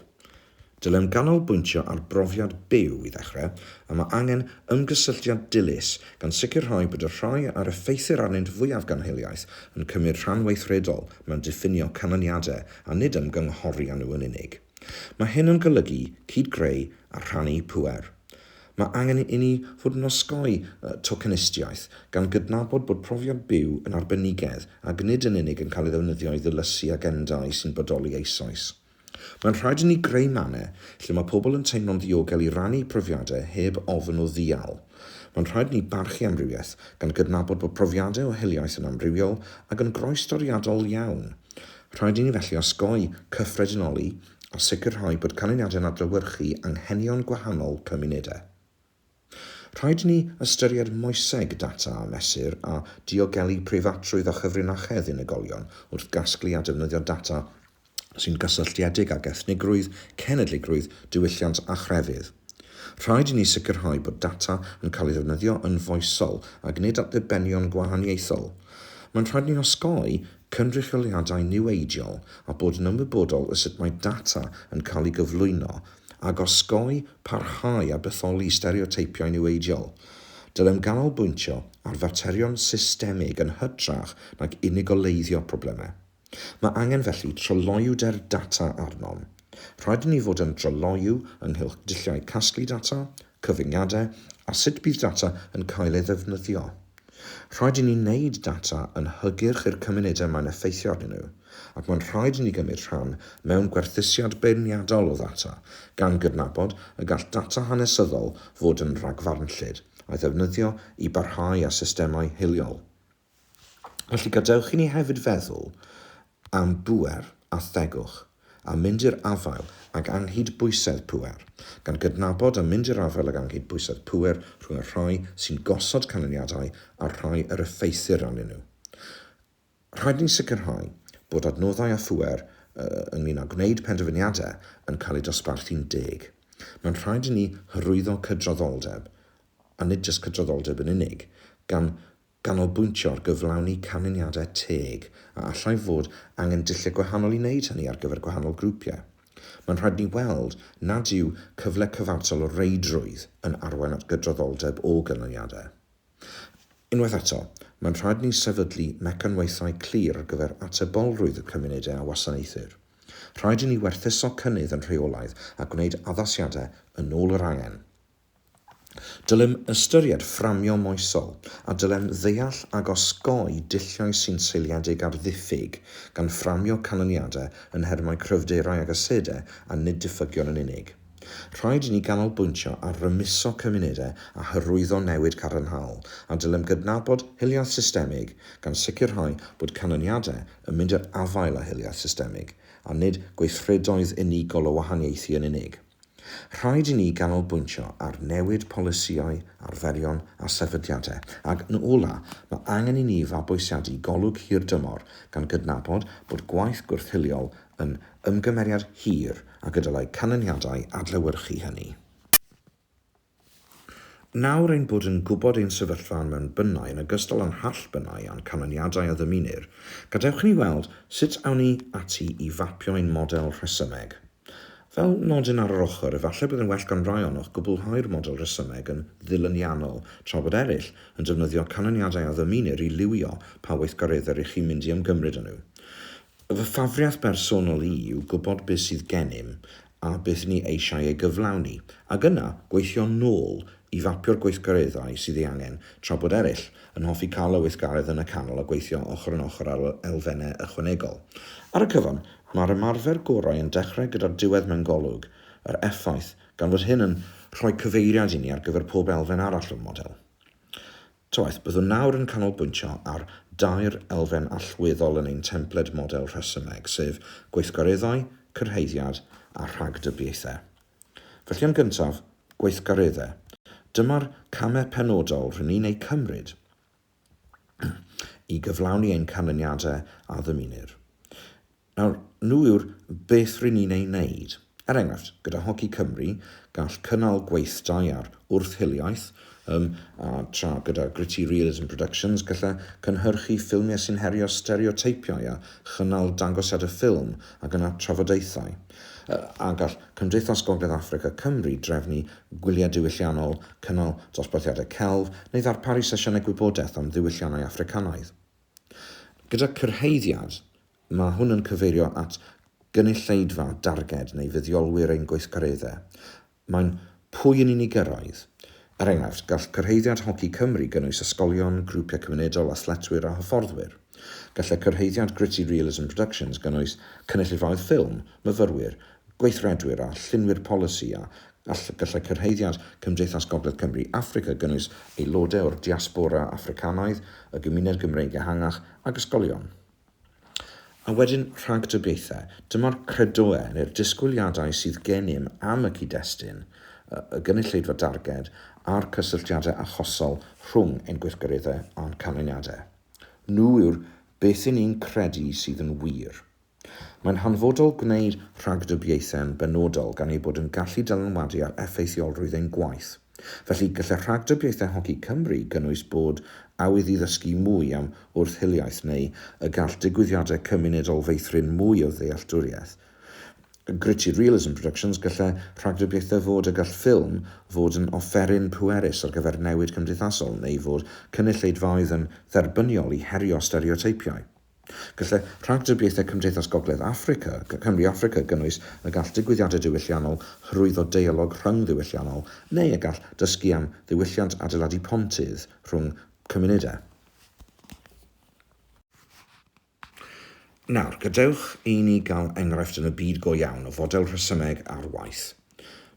Dylem ganolbwyntio ar brofiad byw i ddechrau, a mae angen ymgysylltiad dilys gan sicrhau bod y rhai a'r effeithir arnynt fwyaf gan hiliaeth yn cymryd rhan weithredol mewn diffinio canlyniadau a nid ymgynghori â nhw yn unig. Mae hyn yn golygu cyd-greu a rhannu pŵer. Mae angen inni fod yn osgoi tocenistiaeth, gan gydnabod bod profiad byw yn arbenigedd ac nid yn unig yn cael ei ddefnyddio i ddilysu agendâu sy'n bodoli eisoes. Mae'n rhaid inni greu mannau lle mae pobl yn teimlo'n ddiogel i rannu profiadau heb ofn o ddial. Mae'n rhaid inni barchu amrywiaeth, gan gydnabod bod profiadau o hiliaeth yn amrywiol ac yn groestoriadol iawn. Rhaid i ni felly osgoi cyffredinoli a sicrhau bod canlyniadau'n adlewyrchu anghenion gwahanol cymunedau. Rhaid i ni ystyried moeseg data a mesur a diogelu preifatrwydd a chyfrinachedd unigolion wrth gasglu a defnyddio data sy'n gysylltiedig ag ethnigrwydd, cenedligrwydd, diwylliant a chrefydd. Rhaid i ni sicrhau bod data yn cael ei ddefnyddio yn foesol ac nid at ddibenion gwahaniaethol. Mae'n rhaid i ni osgoi cynrychioliadau niweidiol a bod yn ymwybodol o sut mae data yn cael ei gyflwyno, ac osgoi, parhau a bytholi stereoteipiau niweidiol. Dylem ganolbwyntio ar faterion systemig yn hytrach nag unigoleiddio problemau. Mae angen felly tryloywder data arnom. Rhaid i ni fod yn dryloyw ynghylch dulliau casglu data, cyfyngiadau a sut bydd data yn cael ei ddefnyddio. Rhaid i ni wneud data yn hygyrch i'r cymunedau mae'n effeithio arnyn nhw, ac mae'n rhaid i ni gymryd rhan mewn gwerthusiad beirniadol o ddata, gan gydnabod y gall data hanesyddol fod yn rhagfarnllyd, a'i ddefnyddio i barhau â systemau hiliol. Felly, gadewch i ni hefyd feddwl am bŵer a thegwch, a mynd i'r afael ag anghydbwysedd pŵer, gan gydnabod a mynd i'r afael ag anghydbwysedd pŵer rhwng y rhai sy'n gosod canlyniadau a'r rhai yr effeithir arnyn nhw. Rhaid i ni sicrhau bod adnoddau a phŵer ynglŷn â gwneud penderfyniadau yn cael eu dosbarthu'n deg. Mae'n rhaid i ni hyrwyddo cydraddoldeb, a nid jyst cydraddoldeb yn unig, gan ganolbwyntio ar gyflawni canlyniadau teg a allai fod angen dulliau gwahanol i wneud hynny ar gyfer gwahanol grwpiau. Mae'n rhaid ni weld nad yw cyfle cyfartal o reidrwydd yn arwain at gydraddoldeb o ganlyniadau. Unwaith eto, mae'n rhaid ni sefydlu mecanwaethau clir ar gyfer atebolrwydd y cymunedau a wasanaethir. Rhaid i ni werthuso cynnydd yn rheolaidd a gwneud addasiadau yn ôl yr angen. Dylem ystyried fframio moesol, a dylem ddeall ac osgoi dulliau sy'n seiliedig ar ddiffyg, gan fframio canlyniadau yn nhermau cryfderau ac asedau a nid diffygion yn unig. Rhaid i ni ganolbwyntio ar rymuso cymunedau a hyrwyddo newid cadarnhaol, a dylem gydnabod hiliaeth systemig, gan sicrhau bod canlyniadau yn mynd i'r afael â hiliaeth systemig, a nid gweithredoedd unigol o wahaniaethu yn unig. Rhaid i ni ganolbwyntio ar newid polisïau, arferion a sefydliadau, ac yn ola', mae angen i ni fabwysiadu golwg hirdymor, gan gydnabod bod gwaith gwrth-hiliol yn ymgymeriad hir ac y dylai canlyniadau adlewyrchu hynny. Nawr ein bod yn gwybod ein sefyllfa yn mewn bynnau yn ogystal â'n hall bynnau a'n canlyniadau a ddymunir, gadewch i ni weld sut awn ni ati i fapio ein model rhesymeg. Fel nodyn ar yr ochr, efallai bydd yn well gan rai ohonoch gwblhau'r model rhesymeg yn ddilyniannol, tra bod eraill yn defnyddio canlyniadau a ddymunir i liwio pa weithgareddau rŷch chi'n mynd i ymgymryd â nhw. Fy ffafriaeth bersonol i yw gwybod beth sydd gennym a beth ni eisiau ei gyflawni, ac yna gweithio nôl i fapio'r gweithgareddau sydd ei angen, tra bod eraill yn hoffi cael y weithgaredd yn y canol a gweithio ochr yn ochr ar elfennau ychwanegol. Ar y cyfan, mae'r ymarfer gorau yn dechrau gyda'r diwedd mewn golwg yr effaith, gan fod hyn yn rhoi cyfeiriad i ni ar gyfer pob elfen arall o'r model. Toeth, byddwn nawr yn canolbwyntio ar dair elfen allweddol yn ein templed model rhesymeg, sef gweithgareddau, cyrhaeddiad a rhagdybiaethau. Felly yn gyntaf, gweithgareddau. Dyma'r camau penodol rŷn ni'n eu cymryd i gyflawni ein canlyniadau a ddymunir. Nawr, nhw yw'r beth rŷn ni'n eu wneud. Er enghraifft, gyda Hoci Cymru, gall cynnal gweithdai ar wrth-hiliaeth, ym, a tra gyda Gritty Realism Productions gallai cynhyrchu ffilmiau sy'n herio stereoteipiau a chynnal dangosiadau ffilm ac yna trafodaethau, yy, a gall Cymdeithas Gogledd Affrica Cymru drefnu gwyliau diwylliannol, cynnal dosbarthiadau celf, neu ddarparu sesiynau gwybodaeth am ddiwylliannau Affricanaidd. Gyda cyrhaeddiad, mae hwn yn cyfeirio at gynulleidfa darged neu fuddiolwyr ein gweithgareddau. Mae'n pwy yn unig gyrraedd. Er enghraifft, gall cyrhaeddiad Hoci Cymru gynnwys ysgolion, grwpiau cymunedol, athletwyr a hyfforddwyr. Gallai cyrhaeddiad Gritty Realism Productions gynnwys cynulleidfaoedd ffilm, myfyrwyr, gweithredwyr a llunwyr polisi a Gallai cyrhaeddiad Cymdeithas Gogledd Cymru Affrica gynnwys aelodau o'r diaspora Affricanaidd, y gymuned Gymreig ehangach ac ysgolion. A wedyn rhagdybiaethau. Dyma'r credoau neu'r disgwyliadau sydd gennym am y cyd-destun, y gynulleidfa darged a'r cysylltiadau achosol rhwng ein gweithgareddau a'n canlyniadau. Nhw yw'r beth 'yn ni'n credu sydd yn wir. Mae'n hanfodol gwneud rhagdybiaethau'n benodol gan eu bod yn gallu dylanwadu ar effeithiolrwydd ein gwaith. Felly, gallai rhagdybiaethau Hoci Cymru gynnwys bod awydd i ddysgu mwy am wrth-hiliaeth neu y gall digwyddiadau cymunedol feithrin mwy o ddealltwriaeth. Gritty Realism Productions Gallai rhagdybiaethau fod y gall ffilm fod yn offeryn pwerus ar gyfer newid cymdeithasol neu fod cynulleidfaoedd yn dderbyniol i herio stereoteipiau. Gallai rhagdybiaethau Cymdeithas Gogledd Affrica, Cymru Affrica, gynnwys y gall digwyddiadau diwylliannol hyrwyddo deialog rhyng-ddiwylliannol neu y gall dysgu am ddiwylliant adeiladu pontydd rhwng cymunedau. Nawr, gadewch i ni gael enghraifft yn y byd go iawn o fodel rhesymeg ar waith.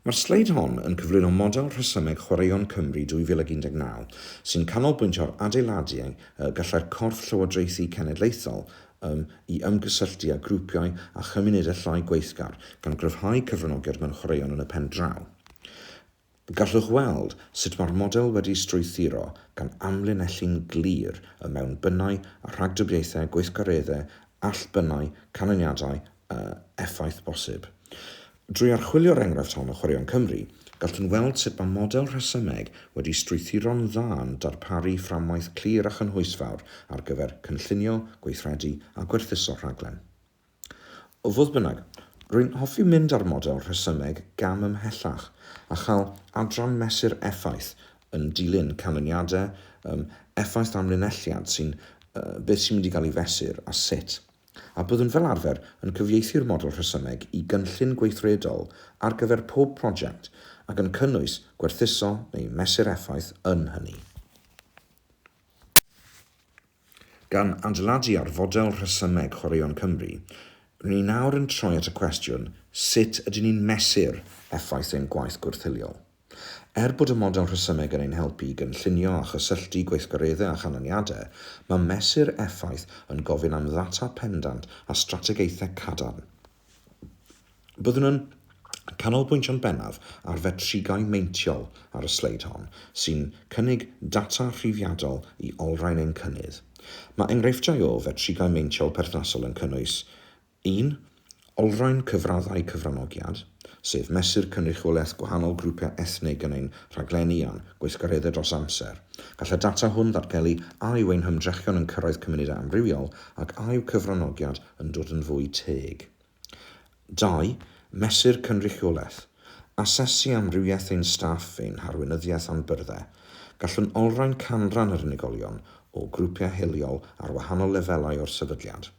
Mae'r sleid hon yn cyflwyno model rhesymeg Chwaraeon Cymru 2019 sy'n canolbwyntio ar adeiladu y gallai'r corff llywodraethu cenedlaethol ym i ymgysylltu â grwpiau a chymunedau llai gweithgar gan gryfhau cyfranogiad mewn chwaraeon yn y pen draw. Gallwch weld sut mae'r model wedi strwythuro gan amlinellu'n glir y mewnbynnau a rhagdybiaethau gweithgareddau allbynnau, canlyniadau effaith bosib. Drwy archwilio'r enghraifft hon o Chwaraeon Cymru, gallwn weld sut mae model rhesymeg wedi strwythuro'n dda yn darparu fframwaith clir a chynhwysfawr ar gyfer cynllunio, gweithredu a gwerthuso rhaglen. Fodd bynnag, rwy'n hoffi mynd â'r model rhesymeg gam ymhellach a chael adran mesur effaith yn dilyn canlyniadau, effaith amlinelliad sy'n beth sy'n mynd i gael ei fesur a sut. a byddwn fel arfer yn cyfieithu'r model rhesymeg i gynllun gweithredol ar gyfer pob prosiect ac yn cynnwys gwerthuso neu mesur effaith yn hynny. Gan adeiladu ar fodel rhesymeg Chwaraeon Cymru, rŷn ni nawr yn troi at y cwestiwn, sut ydyn ni'n mesur effaith ein gwaith gwrthiliol? Er bod y model rhesymeg yn ein helpu i gynllunio a chysylltu gweithgareddau â chanlyniadau, mae mesur effaith yn gofyn am ddata pendant a strategaethau cadarn. Byddwn yn canolbwyntio'n bennaf ar fetrigau meintiol ar y sleid hon, sy'n cynnig data rhifiadol i olrhain ein cynnydd. Mae enghreifftiau o fetrigau meintiol perthnasol yn cynnwys Un, olrhain cyfraddau cyfranogiad, sef mesur cynrychiolaeth gwahanol grwpiau ethnig yn ein rhaglenni a'n gweithgareddau dros amser. Gall y data hwn ddatgelu a yw ein hymdrechion yn cyrraedd cymunedau amrywiol ac a yw cyfranogiad yn dod yn fwy teg. Dau, mesur cynrychiolaeth, asesu amrywiaeth ein staff, ein harweinyddiaeth a'n byrddau. Gallwn olrhain canran yr unigolion o grwpiau hiliol ar wahanol lefelau o'r sefydliad.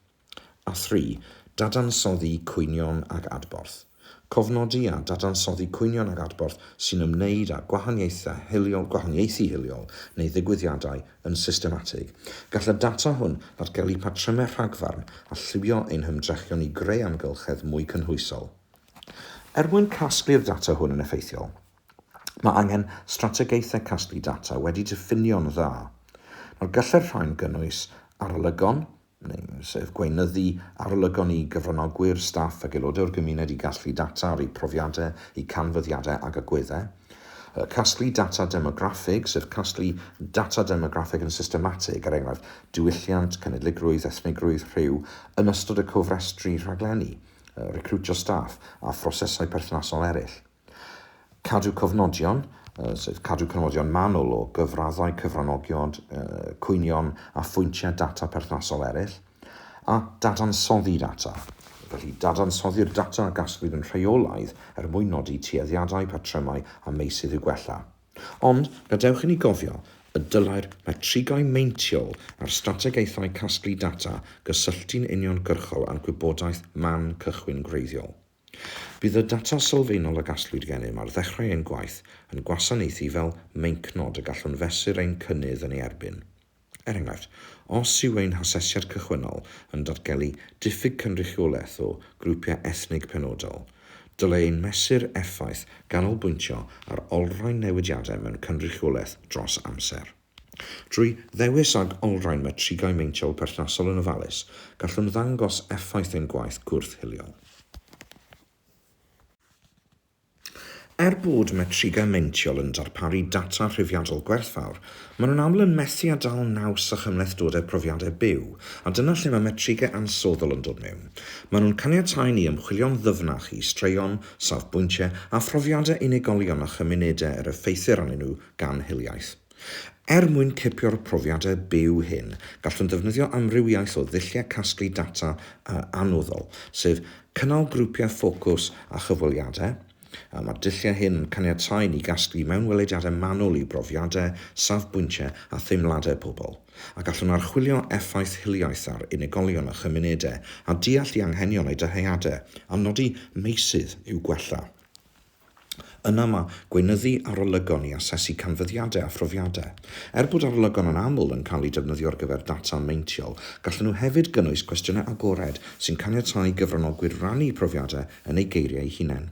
A thri, dadansoddi cwynion ag adborth. Cofnodi a dadansoddi cwynion ag adborth sy'n ymwneud â gwahaniaethau hiliol, gwahaniaethu hiliol neu ddigwyddiadau yn systematig. Gall y data hwn ddatgelu patrymau rhagfarn a lliwio ein hymdrechion i greu amgylchedd mwy cynhwysol. Er mwyn casglu'r data hwn yn effeithiol, mae angen strategaethau casglu data wedi diffinio'n dda. Nawr, gallai'r rhain gynnwys arolygon, sef gweinyddu, arolygon i gyfranogwyr, staff ac aelodau o'r gymuned i gasglu data ar eu profiadau, eu canfyddiadau ac agweddau. Casglu data demograffig, sef casglu data demograffig yn systematig, er enghraifft, diwylliant, cenedligrwydd, ethnigrwydd, rhyw, yn ystod y cofrestru rhaglenni, recriwtio staff, a phrosesau perthnasol eraill. Cadw cofnodion, sef cadw cofnodion manwl o gyfraddau cyfranogion, cwynion a phwyntiau data perthnasol eraill, a dadansoddi data, felly dadansoddi'r data a gasglwyd yn rheolaidd er mwyn nodi tueddiadau, patrymau a meysydd i'w gwella. Ond, gadewch inni gofio y dylai'r metrigau meintiol a'r strategaethau casglu data gysylltu'n uniongyrchol â'r gwybodaeth man cychwyn gwreiddiol. Bydd y data sylfaenol y gasglwyd gennym ar ddechrau ein gwaith yn gwasanaethu fel meincnod y gallwn fesur ein cynnydd yn ei erbyn. Er enghraifft, os yw ein hasesiad cychwynnol yn datgelu diffyg cynrychiolaeth o grwpiau ethnig penodol, dylai ein mesur effaith ganolbwyntio ar olrhain newidiadau mewn cynrychiolaeth dros amser. Drwy ddewis ag olrhain metrigau meintiol perthnasol yn ofalus, gallwn ddangos effaith ein gwaith gwrth-hiliol. Er bod metrigau meintiol yn darparu data rhifiadol gwerthfawr, maen nhw'n aml yn methu â dal naws â chymhlethdodau profiadau byw, a dyna lle mae metrigau ansoddol yn dod mewn. Maen nhw'n caniatáu i ni ymchwilio'n ddyfnach i straeon, safbwyntiau a phrofiadau unigolion a chymunedau yr effeithir arnyn nhw gan hiliaeth. Er mwyn cipio'r profiadau byw hyn, gallwn ddefnyddio amrywiaeth o ddulliau casglu data a annuddol, sef cynnal grwpiau ffocws a chyfweliadau, a mae'r dulliau hyn yn caniatáu ni gasglu mewnwelediadau manwl i brofiadau, safbwyntiau a theimladau pobl, a gallwn archwilio effaith hiliaeth ar unigolion a chymunedau a deall eu hanghenion a'u dyheadau, a nodi meysydd i'w gwella. Yna mae gweinyddu arolygon i asesu canfyddiadau a phrofiadau. Er bod arolygon yn aml yn cael eu defnyddio ar gyfer data meintiol, gallan nhw hefyd gynnwys cwestiynau agored sy'n caniatáu i gyfranogwyr rannu profiadau yn eu geiriau eu hunain.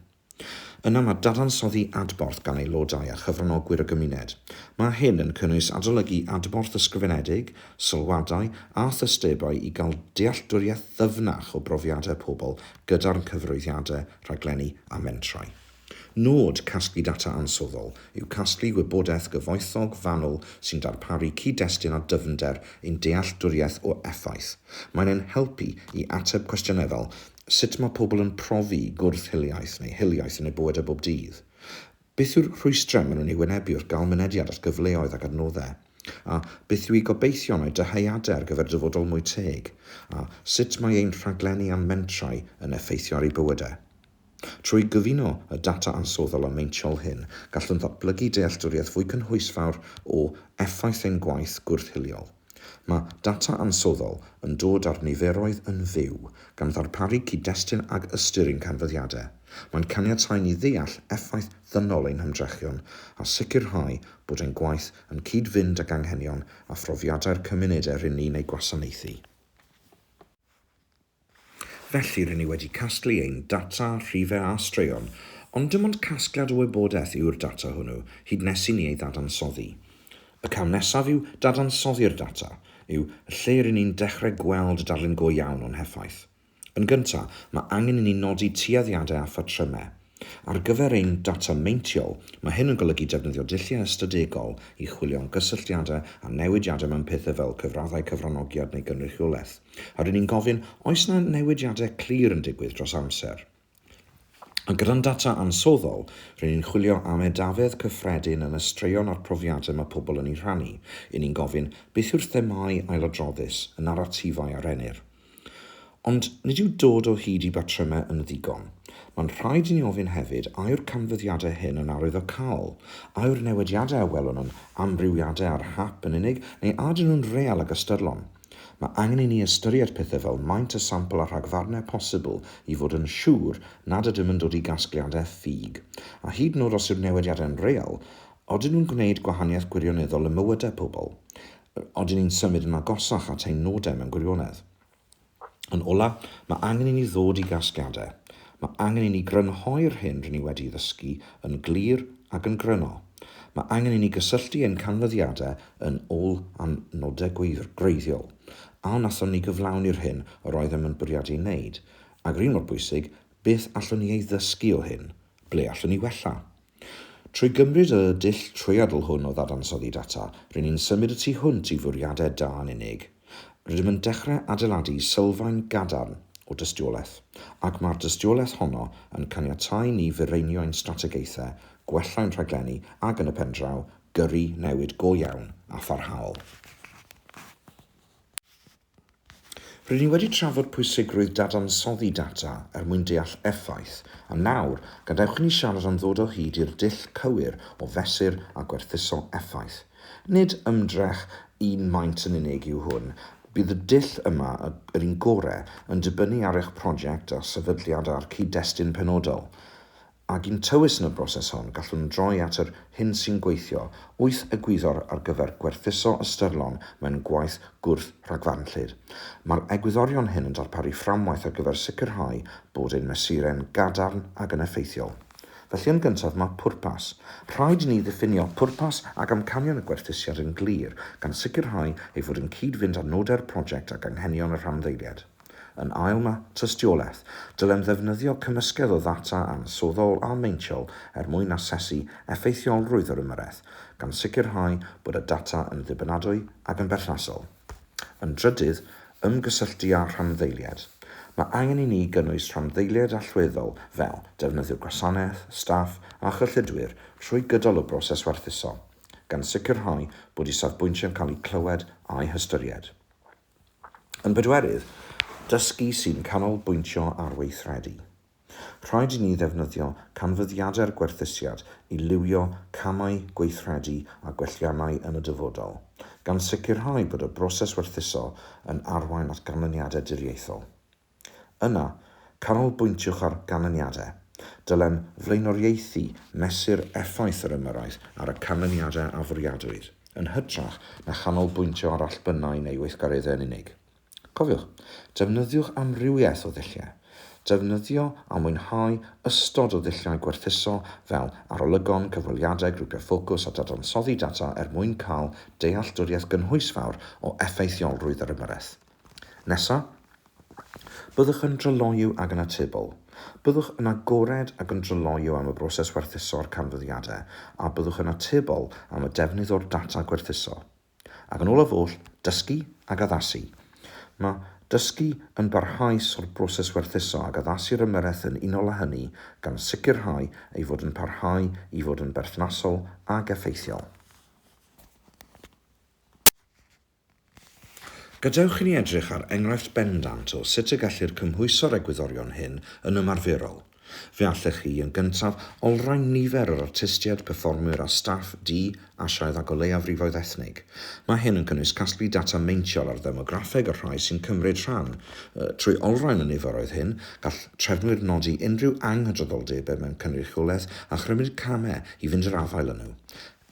Yna mae dadansoddi adborth gan aelodau a chyfranogwyr y gymuned. Mae hyn yn cynnwys adolygu adborth ysgrifenedig, sylwadau a thystebau i gael dealltwriaeth ddyfnach o brofiadau pobl gyda'r cyfroeddiadau, rhaglenni a mentrau. Nod casglu data ansoddol yw casglu gwybodaeth gyfoethog fanwl sy'n darparu cyd-destun a dyfnder i'n dealltwriaeth o effaith. Mae'n ein helpu i ateb cwestiynau fel, Sut mae pobl yn profi gwrth-hiliaeth neu hiliaeth yn eu bywydau bob dydd? Beth yw'r rhwystrau maen nhw'n eu wynebu wrth gael mynediad at gyfleoedd ac adnoddau? A beth yw eu gobeithion a'u dyheadau ar gyfer dyfodol mwy teg? A sut mae ein rhaglenni a'n mentrau yn effeithio ar eu bywydau? Trwy gyfuno y data ansoddol a meintiol hyn, gallwn ddatblygu dealltwriaeth fwy cynhwysfawr o effaith ein gwaith gwrth-hiliol. Mae data ansoddol yn dod â'r niferoedd yn fyw, gan ddarparu cyd-destun ag ystyr i'n canfyddiadau. Mae'n caniatáu ni ddeall effaith ddynol ein hymdrechion a sicrhau bod ein gwaith yn cyd-fynd ag anghenion a phrofiadau'r cymunedau rŷn ni'n eu gwasanaethu. Felly, rŷn ni wedi casglu ein data, rhifau a straeon, ond dim ond casgliad o wybodaeth yw'r data hwnnw, hyd nes i ni ei ddadansoddi. Y cam nesaf yw dadansoddi'r data, yw, y lle rŷn ni'n dechrau gweld darlun go iawn o'n heffaith. Yn gyntaf, mae angen i ni nodi tueddiadau a phatrymau. Ar gyfer ein data meintiol, mae hyn yn golygu defnyddio dulliau ystadegol i chwilio am gysylltiadau a newidiadau mewn pethau fel cyfraddau cyfranogiad neu gynrychiolaeth. A ry'n ni'n gofyn, oes 'na newidiadau clir yn digwydd dros amser? A gyda'n data ansoddol, ry'n ni'n chwilio am edafedd cyffredin yn y straeon a'r profiadau mae pobl yn eu rhannu. Y'n ni'n gofyn, beth yw'r themâu ailadroddus, y naratifau a rennir? Ond nid yw dod o hyd i batrymau yn ddigon. Mae'n rhaid i ni ofyn hefyd, a yw'r canfyddiadau hyn yn arwyddocaol? A yw'r newidiadau a welwn yn amrywiadau ar hap yn unig, neu a ydyn nhw'n real ac ystyrlon? Mae angen i ni ystyried pethau fel maint y sampl a rhagfarnau posibl i fod yn siŵr nad ydym yn dod i gasgliadau ffug. A hyd yn oed os yw'r newidiadau'n real, odyn nhw'n gwneud gwahaniaeth gwirioneddol ym mywydau pobl? Odyn ni'n symud yn agosach at ein nodau mewn gwirionedd? Yn ola, mae angen i ni ddod i gasgliadau. Mae angen i ni grynhoi'r hyn rŷn ni wedi'i ddysgu yn glir ac yn gryno. Mae angen i ni gysylltu ein canfyddiadau yn ôl â nodau gwreiddiol, a wnaethon ni gyflawni'r hyn yr oeddem yn bwriadu ei wneud, ac yr un mor bwysig, beth allwn ni ei ddysgu o hyn? Ble allwn ni wella? Trwy gymryd y dull trwyadl hwn o ddadansoddi data, ry'n ni'n symud y tu hwnt i fwriadau da yn unig. Rydym yn dechrau adeiladu sylfaen gadarn o dystiolaeth, ac mae'r dystiolaeth honno yn caniatáu ni fireinio ein strategaethau, gwella ein rhaglenni ac, yn y pen draw, gyrru newid go iawn a pharhaol. Rydyn ni wedi trafod pwysigrwydd dadansoddi data er mwyn deall effaith, a nawr, gadewch i ni siarad am ddod o hyd i'r dull cywir o fesur a gwerthuso effaith. Nid ymdrech un maint yn unig yw hwn, bydd y dull yma, yr un gorau, yn dibynnu ar eich prosiect a sefydliad a'r cyd-destun penodol. Ag un tywys yn y broses hon, gallwn droi at yr hyn sy'n gweithio, wyth egwyddor ar gyfer gwerthuso ystyrlon mewn gwaith gwrth-rhagfarnllyd. Mae'r egwyddorion hyn yn darparu fframwaith ar gyfer sicrhau bod ein mesurau'n gadarn ac yn effeithiol. Felly yn gyntaf mae pwrpas. Rhaid i ni ddiffinio pwrpas ac amcanion y gwerthusiad yn glir, gan sicrhau ei fod yn cyd-fynd â nodau'r prosiect ac anghenion y rhanddeiliaid. Yn ail mae tystiolaeth. Dylem ddefnyddio cymysgedd o ddata ansoddol a meintiol er mwyn asesu effeithiolrwydd yr ymyrraeth, gan sicrhau bod y data yn ddibynadwy ac yn berthnasol. Yn drydydd, ymgysylltu â rhanddeiliaid. Mae angen i ni gynnwys rhanddeiliaid allweddol fel defnyddiwr gwasanaeth, staff a chyllidwyr trwy gydol y broses werthuso, gan sicrhau bod eu safbwyntiau'n cael eu clywed a'u hystyried. Yn bedwerydd, dysgu sy'n canolbwyntio ar weithredu. Rhaid i ni ddefnyddio canfyddiadau'r gwerthusiad i liwio camau gweithredu a gwelliannau yn y dyfodol, gan sicrhau bod y broses werthuso yn arwain at ganlyniadau diriaethol. Yna, canolbwyntiwch ar ganlyniadau. Dylem flaenoriaethu mesur effaith yr ymyrraeth ar y canlyniadau a fwriadwyd, yn hytrach na chanolbwyntio ar allbynnau neu weithgareddau yn unig. Cofiwch, defnyddiwch amrywiaeth o ddulliau. Defnyddio a mwynhau ystod o ddulliau gwerthuso fel arolygon, cyfweliadau, grwpiau ffocws a dadansoddi data er mwyn cael dealltwriaeth gynhwysfawr o effeithiolrwydd yr ymyrraeth. Nesaf, byddwch yn dryloyw ac yn atebol. Byddwch yn agored ac yn dryloyw am y broses werthuso a'r canfyddiadau, a byddwch yn atebol am y defnydd o'r data gwerthuso. Ac yn olaf oll, dysgu ac addasu. Mae dysgu yn barhaus o'r broses werthuso ac addasu'r ymyrraeth yn unol â hynny gan sicrhau ei fod yn parhau i fod yn berthnasol ac effeithiol. Gadewch i ni edrych ar enghraifft bendant o sut y gellir cymhwyso'r egwyddorion hyn yn ymarferol. Fe allech chi, yn gyntaf, olrhain nifer yr artistiaid, perfformwyr a staff du, Asiaidd ac o leiafrifoedd ethnig. Mae hyn yn cynnwys casglu data meintiol ar ddemograffeg y rhai sy'n cymryd rhan. Trwy olrhain y niferoedd hyn, gall trefnwyr nodi unrhyw anghydraddoldebau mewn cynrychiolaeth a chymryd camau i fynd i'r afael â nhw.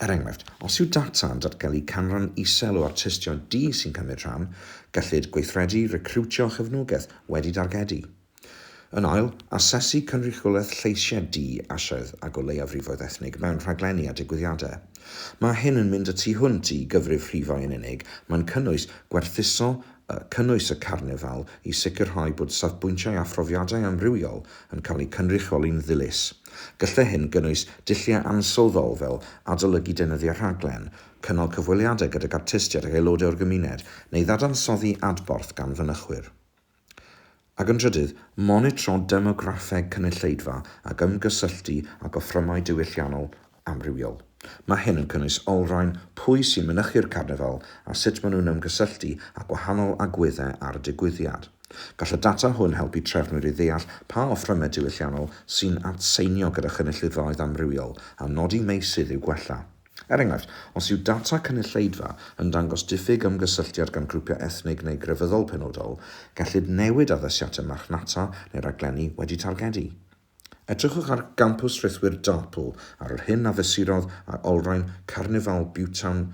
Er enghraifft, os yw data yn datgelu canran isel o artistiaid du sy'n cymryd rhan, gellid gweithredu recriwtio a chefnogaeth wedi dargedu. Yn ail, asesu cynrychiolaeth lleisiau du, Asiaidd ac o leiafrifoedd ethnig mewn rhaglenni a digwyddiadau. Mae hyn yn mynd y tu hwnt i gyfrif rhifau yn unig, mae'n cynnwys gwerthuso y cynnwys y carnifal i sicrhau bod safbwyntiau a phrofiadau amrywiol yn cael eu cynrychioli'n ddilys. Gallai hyn gynnwys dulliau ansylfaol fel adolygu deunyddiau rhaglen, cynnal cyfweliadau gydag artistiaid ac aelodau o'r gymuned, neu ddadansoddi adborth gan fynychwyr. Ac yn drydydd, monitro demograffeg cynulleidfa ac ymgysylltu â gofrymau diwylliannol amrywiol. Mae hyn yn cynnwys olrhain pwy sy'n mynychu'r carnifal a sut maen nhw'n ymgysylltu â gwahanol agweddau ar y digwyddiad. Gall y data hwn helpu trefnwyr i ddeall pa ofrymau diwylliannol sy'n atseinio gyda chynulleidfaoedd amrywiol a nodi meysydd i'w gwella. Er enghraifft, os yw data cynulleidfa yn dangos diffyg ymgysylltiad gan grwpiau ethnig neu grefyddol penodol, gellid newid addasiadau marchnata neu raglenni wedi targedu. Edrychwch ar Gampws Rhithwir Dartpool ar yr hyn a fesurodd ar olrhain Carnifal Butetown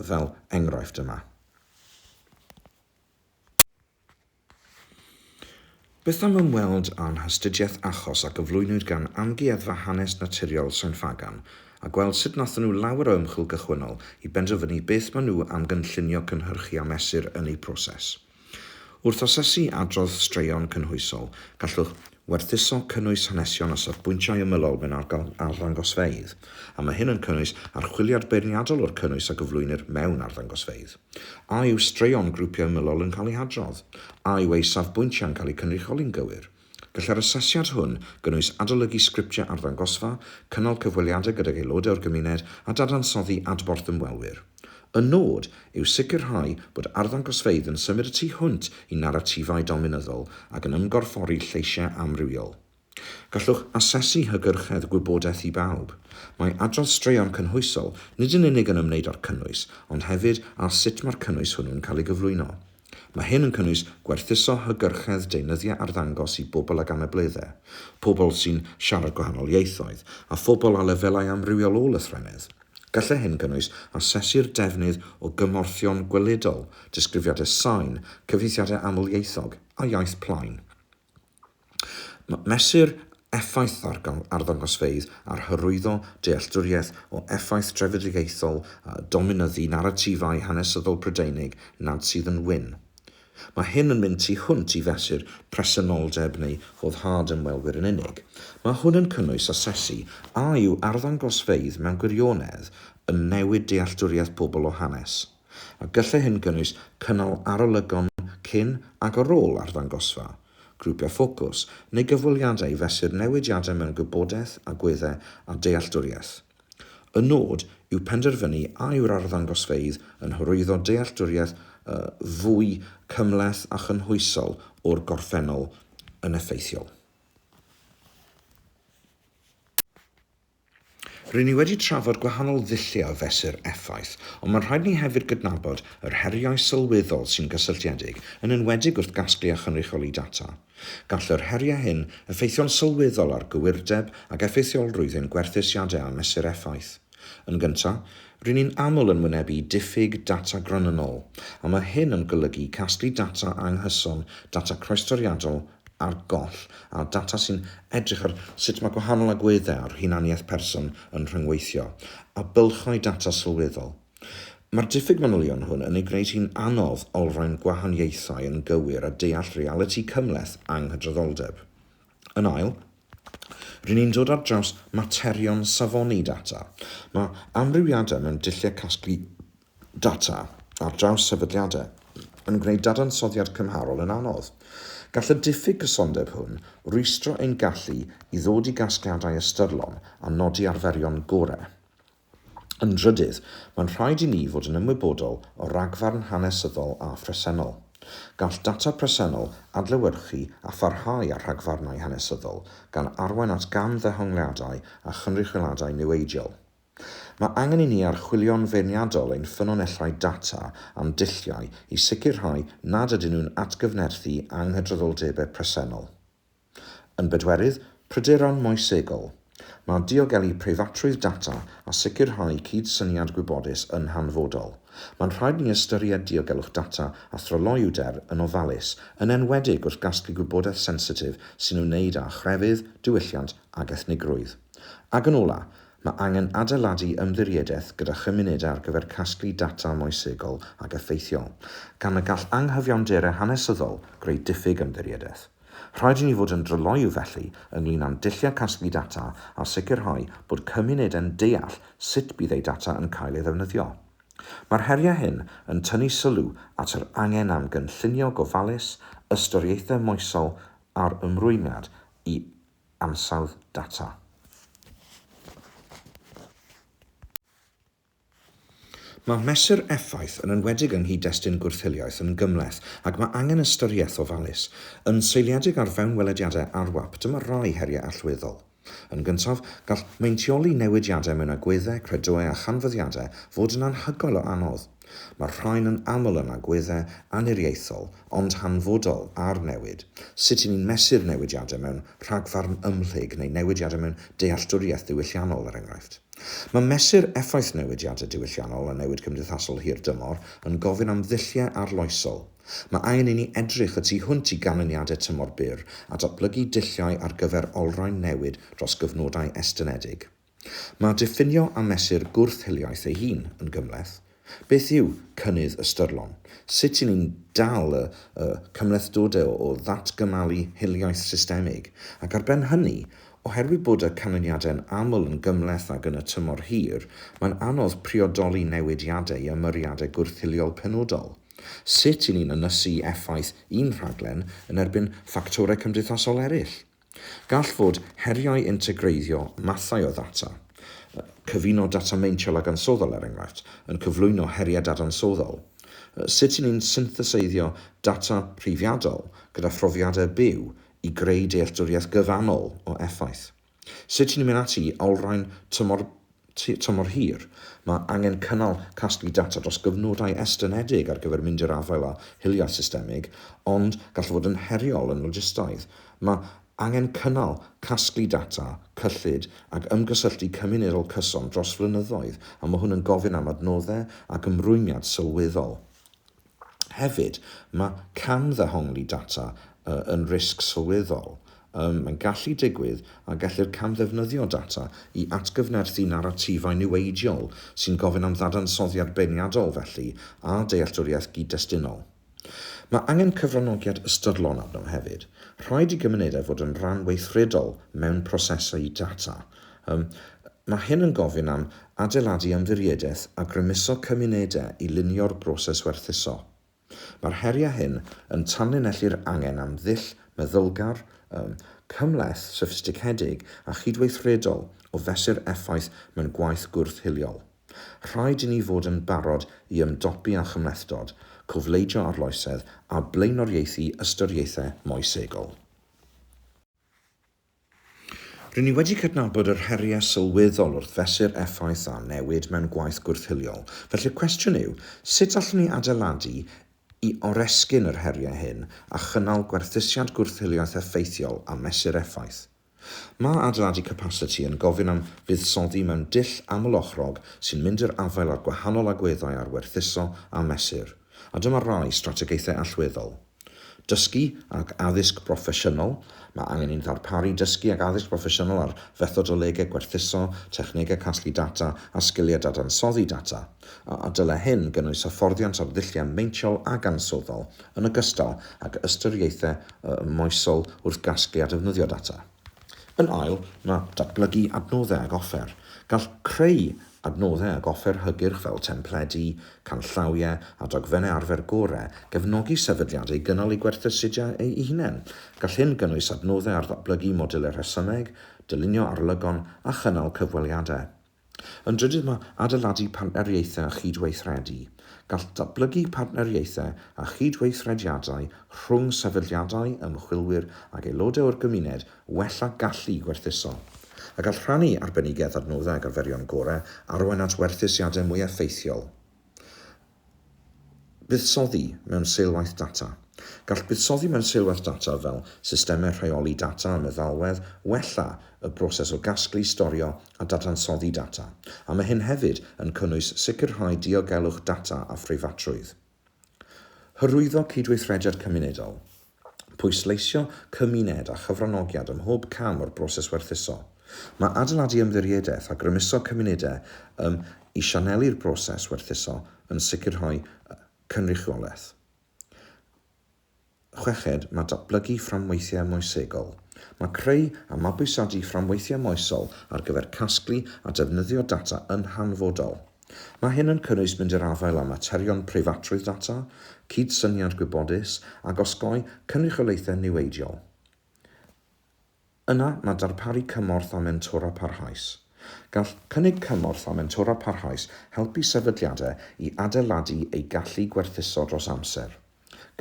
fel enghraifft yma. Beth am ymweld â'n hastudiaeth achos a gyflwynwyd gan Amgueddfa Hanes Naturiol Sain Ffagan a gweld sut nathon nhw lawer o ymchwil gychwynnol i benderfynu beth ma' nhw am gynllunio cynhyrchu a mesur yn eu proses. Wrth asesu adrodd straeon cynhwysol, gallwch Werthuso cynnwys hanesion a safbwyntiau ymylol mewn arddangosfeydd, a mae hyn yn cynnwys archwiliad beirniadol o'r cynnwys a gyflwynir mewn arddangosfeydd. A yw straeon grwpiau ymylol yn cael eu hadrodd? A yw eu safbwyntiau'n cael eu cynrychioli'n gywir? Gallai'r asesiad hwn gynnwys adolygu sgriptiau arddangosfa, cynnal cyfweliadau gydag aelodau o'r gymuned a dadansoddi adborth ymwelwyr. Y nod yw sicrhau bod arddangosfeydd yn symud y tu hwnt i naratifau dominyddol ac yn ymgorffori lleisiau amrywiol. Gallwch asesu hygyrchedd gwybodaeth i bawb. Mae adrodd straeon cynhwysol nid yn unig yn ymwneud â'r cynnwys, ond hefyd â sut mae'r cynnwys hwnnw'n cael ei gyflwyno. Mae hyn yn cynnwys gwerthuso hygyrchedd deunyddiau arddangos i bobl ag anableddau, pobl sy'n siarad gwahanol ieithoedd, a phobl â lefelau amrywiol o lythrennedd. Gallai hyn gynnwys asesu'r defnydd o gymorthion gweledol, disgrifiadau sain, cyfieithiadau amlieithog, a iaith plaen. Mesur effaith ddarganfod arddangosfeydd ar hyrwyddo dealltwriaeth o effaith drefedigaethol a dominyddu naratifau hanesyddol Prydeinig nad sydd yn wyn. Mae hyn yn mynd tu hwnt i fesur presenoldeb neu foddhad ymwelwyr yn unig. Mae hwn yn cynnwys asesu a yw arddangosfeydd mewn gwirionedd yn newid dealltwriaeth pobl o hanes, a gallai hyn gynnwys cynnal arolygon cyn ac ar ôl arddangosfa, grwpiau ffocws, neu gyfweliadau i fesur newidiadau mewn gwybodaeth, agweddau a dealltwriaeth. Y nod yw penderfynu a yw'r arddangosfeydd yn hyrwyddo dealltwriaeth fwy cymhleth a chynhwysol o'r gorffennol yn effeithiol. Ry'n ni wedi trafod gwahanol ddulliau o fesur effaith, ond mae'n rhaid i ni hefyd gydnabod yr heriau sylweddol sy'n gysylltiedig, yn enwedig wrth gasglu a chynrychioli data. Gall yr heriau hyn effeithio'n sylweddol ar gywirdeb ac effeithiolrwydd ein gwerthusiadau a mesur effaith. Yn gyntaf, ry'n ni'n aml yn wynebu diffyg data gronynnol, a mae hyn yn golygu casglu data anghyson, data croestoriadol ar goll, a data sy'n edrych ar sut mae gwahanol agweddau ar hunaniaeth person yn rhyngweithio, a bylchau data sylweddol. Mae'r diffyg manylion hwn yn ei gwneud hi'n anodd olrhain gwahaniaethau yn gywir a deall realiti cymhleth anghydraddoldeb. Yn ail, ry'n ni'n dod ar draws materion safoni data. Mae amrywiadau mewn dulliau casglu data ar draws sefydliadau yn gwneud dadansoddiad cymharol yn anodd. Gall y diffyg cysondeb hwn rwystro ein gallu i ddod i gasgliadau ystyrlon a nodi arferion gorau. Yn drydydd, mae'n rhaid i ni fod yn ymwybodol o ragfarn hanesyddol a phresennol. Gall data presennol adlewyrchu a pharhau â rhagfarnau hanesyddol, gan arwain at gamddehongliadau a chynrychioladau niweidiol. Mae angen i ni archwilio'n feirniadol ein ffynonellau data a'n dulliau i sicrhau nad ydyn nhw'n atgyfnerthu anghydraddoldebau presennol. Yn bedwerydd, pryderon moesegol. Mae diogelu preifatrwydd data a sicrhau cyd-syniad gwybodus yn hanfodol. Mae'n rhaid ni ystyried diogelwch data a thryloywder yn ofalus, yn enwedig wrth gasglu gwybodaeth sensitif sy'n ymwneud â chrefydd, diwylliant ac ethnigrwydd. Ac yn ola', Mae angen adeiladu ymddiriedaeth gyda chymunedau ar gyfer casglu data moesegol ac effeithiol, gan y gall anghyfiawnderau hanesyddol greu diffyg ymddiriedaeth. Rhaid i ni fod yn dryloyw, felly, ynglŷn â'n dulliau casglu data a sicrhau bod cymunedau'n deall sut bydd eu data yn cael ei ddefnyddio. Mae'r heriau hyn yn tynnu sylw at yr angen am gynllunio gofalus, ystyriaethau moesol a'r ymrwymiad i ansawdd data. Mae mesur effaith yn enwedig yng nghyd-destun gwrth-hiliaeth yn gymhleth ac mae angen ystyriaeth ofalus. Yn seiliedig ar fewnwelediadau ARWAP, dyma rai heriau allweddol. Yn gyntaf, gall meintioli newidiadau mewn agweddau, credoau a chanfyddiadau fod yn anhygoel o anodd. Mae'r rhain yn aml yn agweddau anniriaethol ond hanfodol ar newid, sut y'n ni'n mesur newidiadau mewn rhagfarn ymhlyg neu newidiadau mewn dealltwriaeth ddiwylliannol, er enghraifft. Mae mesur effaith newidiadau diwylliannol a newid cymdeithasol hir dymor yn gofyn am ddulliau arloesol. Mae angen i ni edrych y tu hwnt i ganlyniadau tymor byr a datblygu dulliau ar gyfer olrhain newid dros gyfnodau estynedig. Mae diffinio a mesur gwrth-hiliaeth ei hun yn gymhleth. Beth yw cynnydd ystyrlon? Sut y'n ni'n dal y y cymhlethdode o ddatgymalu hiliaeth systemig? Ac ar ben hynny, oherwydd bod y canlyniadau'n aml yn gymhleth ag yn y tymor hir, mae'n anodd priodoli newidiadau i ymyriadau gwrth-hiliol penodol. Sut y'n ni'n ynysu effaith un rhaglen yn erbyn ffactorau cymdeithasol eraill? Gall fod heriau integreiddio mathau o ddata, cyfuno data meintiol ag ansoddol er enghraifft, yn cyflwyno heriau dadansoddol. Sut y'n ni'n syntheseiddio data rhifiadol gyda phrofiadau byw i greu dealltwriaeth gyfannol o effaith? Sut y'n ni'n mynd ati i olrhain tymor Tua tymor hir, mae angen cynnal casglu data dros gyfnodau estynedig ar gyfer mynd i'r afael â hiliaeth systemig, ond gall fod yn heriol yn logistaidd. Mae angen cynnal, casglu data, cyllid ac ymgysylltu cymunedol cyson dros flynyddoedd, a mae hwn yn gofyn am adnoddau ac ymrwymiad sylweddol. Hefyd, mae camddehongli data yn risg sylweddol. Mae'n gallu digwydd a gellir camddefnyddio data i atgyfnerthu naratifau niweidiol sy'n gofyn am ddadansoddiad beirniadol felly a dealltwriaeth gyd-destunol. Mae angen cyfranogiad ystyrlon arno hefyd. Rhaid i gymunedau fod yn rhan weithredol mewn prosesau data Ym, Mae hyn yn gofyn am adeiladu ymddiriedaeth a grymuso cymunedau i lunio'r broses werthuso. Mae'r heriau hyn yn tanlinellu'r angen am ddull meddylgar, ym, cymhleth, soffistigedig a chydweithredol o fesur effaith mewn gwaith gwrth-hiliol. Rhaid i ni fod yn barod i ymdopi â chymhlethdod, cofleidio arloesedd a blaenoriaethu ystyriaethau moesegol. Rŷn ni wedi cydnabod yr heriau sylweddol wrth fesur effaith a newid mewn gwaith gwrth-hiliol, felly y cwestiwn yw, sut allwn ni adeiladu i oresgyn yr heriau hyn a chynnal gwerthusiad gwrth-hiliaeth effeithiol a mesur effaith? Mae adeiladu capasiti yn gofyn am fuddsoddi mewn dull aml-ochrog sy'n mynd i'r afael â'r gwahanol agweddau ar werthuso a mesur. A dyma rai strategaethau allweddol. Dysgu ac addysg broffesiynol, Mae angen i'n ddarparu dysgu ac addysg broffesiynol ar fethodolegau gwerthuso, technegau casglu data a sgiliau dadansoddi data, a dylai hyn gynnwys hyfforddiant ar ddulliau meintiol ac ansoddol, yn ogystal ag ystyriaethau moesol wrth gasglu a defnyddio data. Yn ail, mae datblygu adnoddau ag offer. Gall creu adnoddau ag offer hygyrch fel templedi, canllawiau a dogfennau arfer gorau gefnogi sefydliadau i gynnal eu gwerthusiadau eu hunain. Gall hyn gynnwys adnoddau ar ddatblygu modiwlau rhesymeg, dylunio arolygon a chynnal cyfweliadau. Yn drydydd mae adeiladu partneriaethau a chydweithredu. Gall datblygu partneriaethau a chydweithrediadau rhwng sefydliadau, ymchwilwyr ac aelodau o'r gymuned wella gallu gwerthuso. A gall rhannu arbenigedd, adnoddau ac arferion gorau arwain at werthusiadau mwy effeithiol. Buddsoddi mewn seilwaith data. Gall buddsoddi mewn seilwaith data fel systemau rheoli data a meddalwedd wella y broses o gasglu, storio a dadansoddi data, a mae hyn hefyd yn cynnwys sicrhau diogelwch data a phreifatrwydd. Hyrwyddo cydweithrediad cymunedol. Pwysleisio cymuned a chyfranogiad ym mhob cam o'r broses werthuso. Mae adeiladu ymddiriedaeth a grymuso cymunedau ym i sianelu'r broses werthuso yn sicrhau cynrychiolaeth. Chweched, mae datblygu fframweithiau moesegol. Mae creu a mabwysiadu fframweithiau moesol ar gyfer casglu a defnyddio data yn hanfodol. Mae hyn yn cynnwys mynd i'r afael â materion preifatrwydd data, cydsyniad gwybodus, ac osgoi cynrychiolaethau niweidiol. Yna mae darparu cymorth a mentora parhaus. Gall cynnig cymorth a mentora parhaus helpu sefydliadau i adeiladu eu gallu gwerthuso dros amser.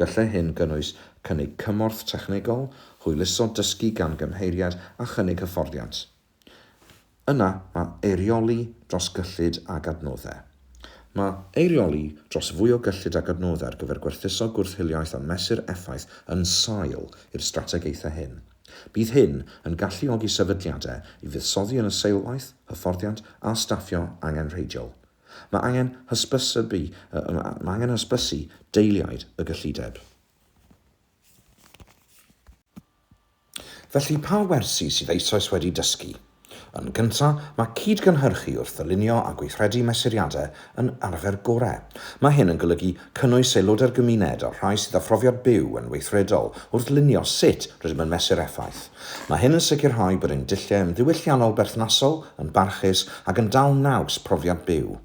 Gallai hyn gynnwys cynnig cymorth technegol, hwyluso dysgu gan gymheiriaid a chynnig hyfforddiant. Yna mae eirioli dros gyllid ag adnoddau. Mae eirioli dros fwy o gyllid ag adnoddau ar gyfer gwerthuso gwrth-hiliaeth a mesur effaith yn sail i'r strategaethau hyn. Bydd hyn yn galluogi sefydliadau i fuddsoddi yn y seilwaith, hyfforddiant a staffio angenrheidiol. Mae angen hysbysu Mae angen hysbysu deiliaid y gyllideb. Felly, pa wersi sydd eisoes wedi dysgu? Yn gyntaf, mae cyd-gynhyrchu wrth ddylunio a gweithredu mesuriadau yn arfer gorau. Mae hyn yn golygu cynnwys aelodau'r gymuned a'r rhai sydd â phrofiad byw yn weithredol wrth lunio sut rydym yn mesur effaith. Mae hyn yn sicrhau bod ein dulliau yn ddiwylliannol berthnasol, yn barchus ac yn dal naws profiad byw.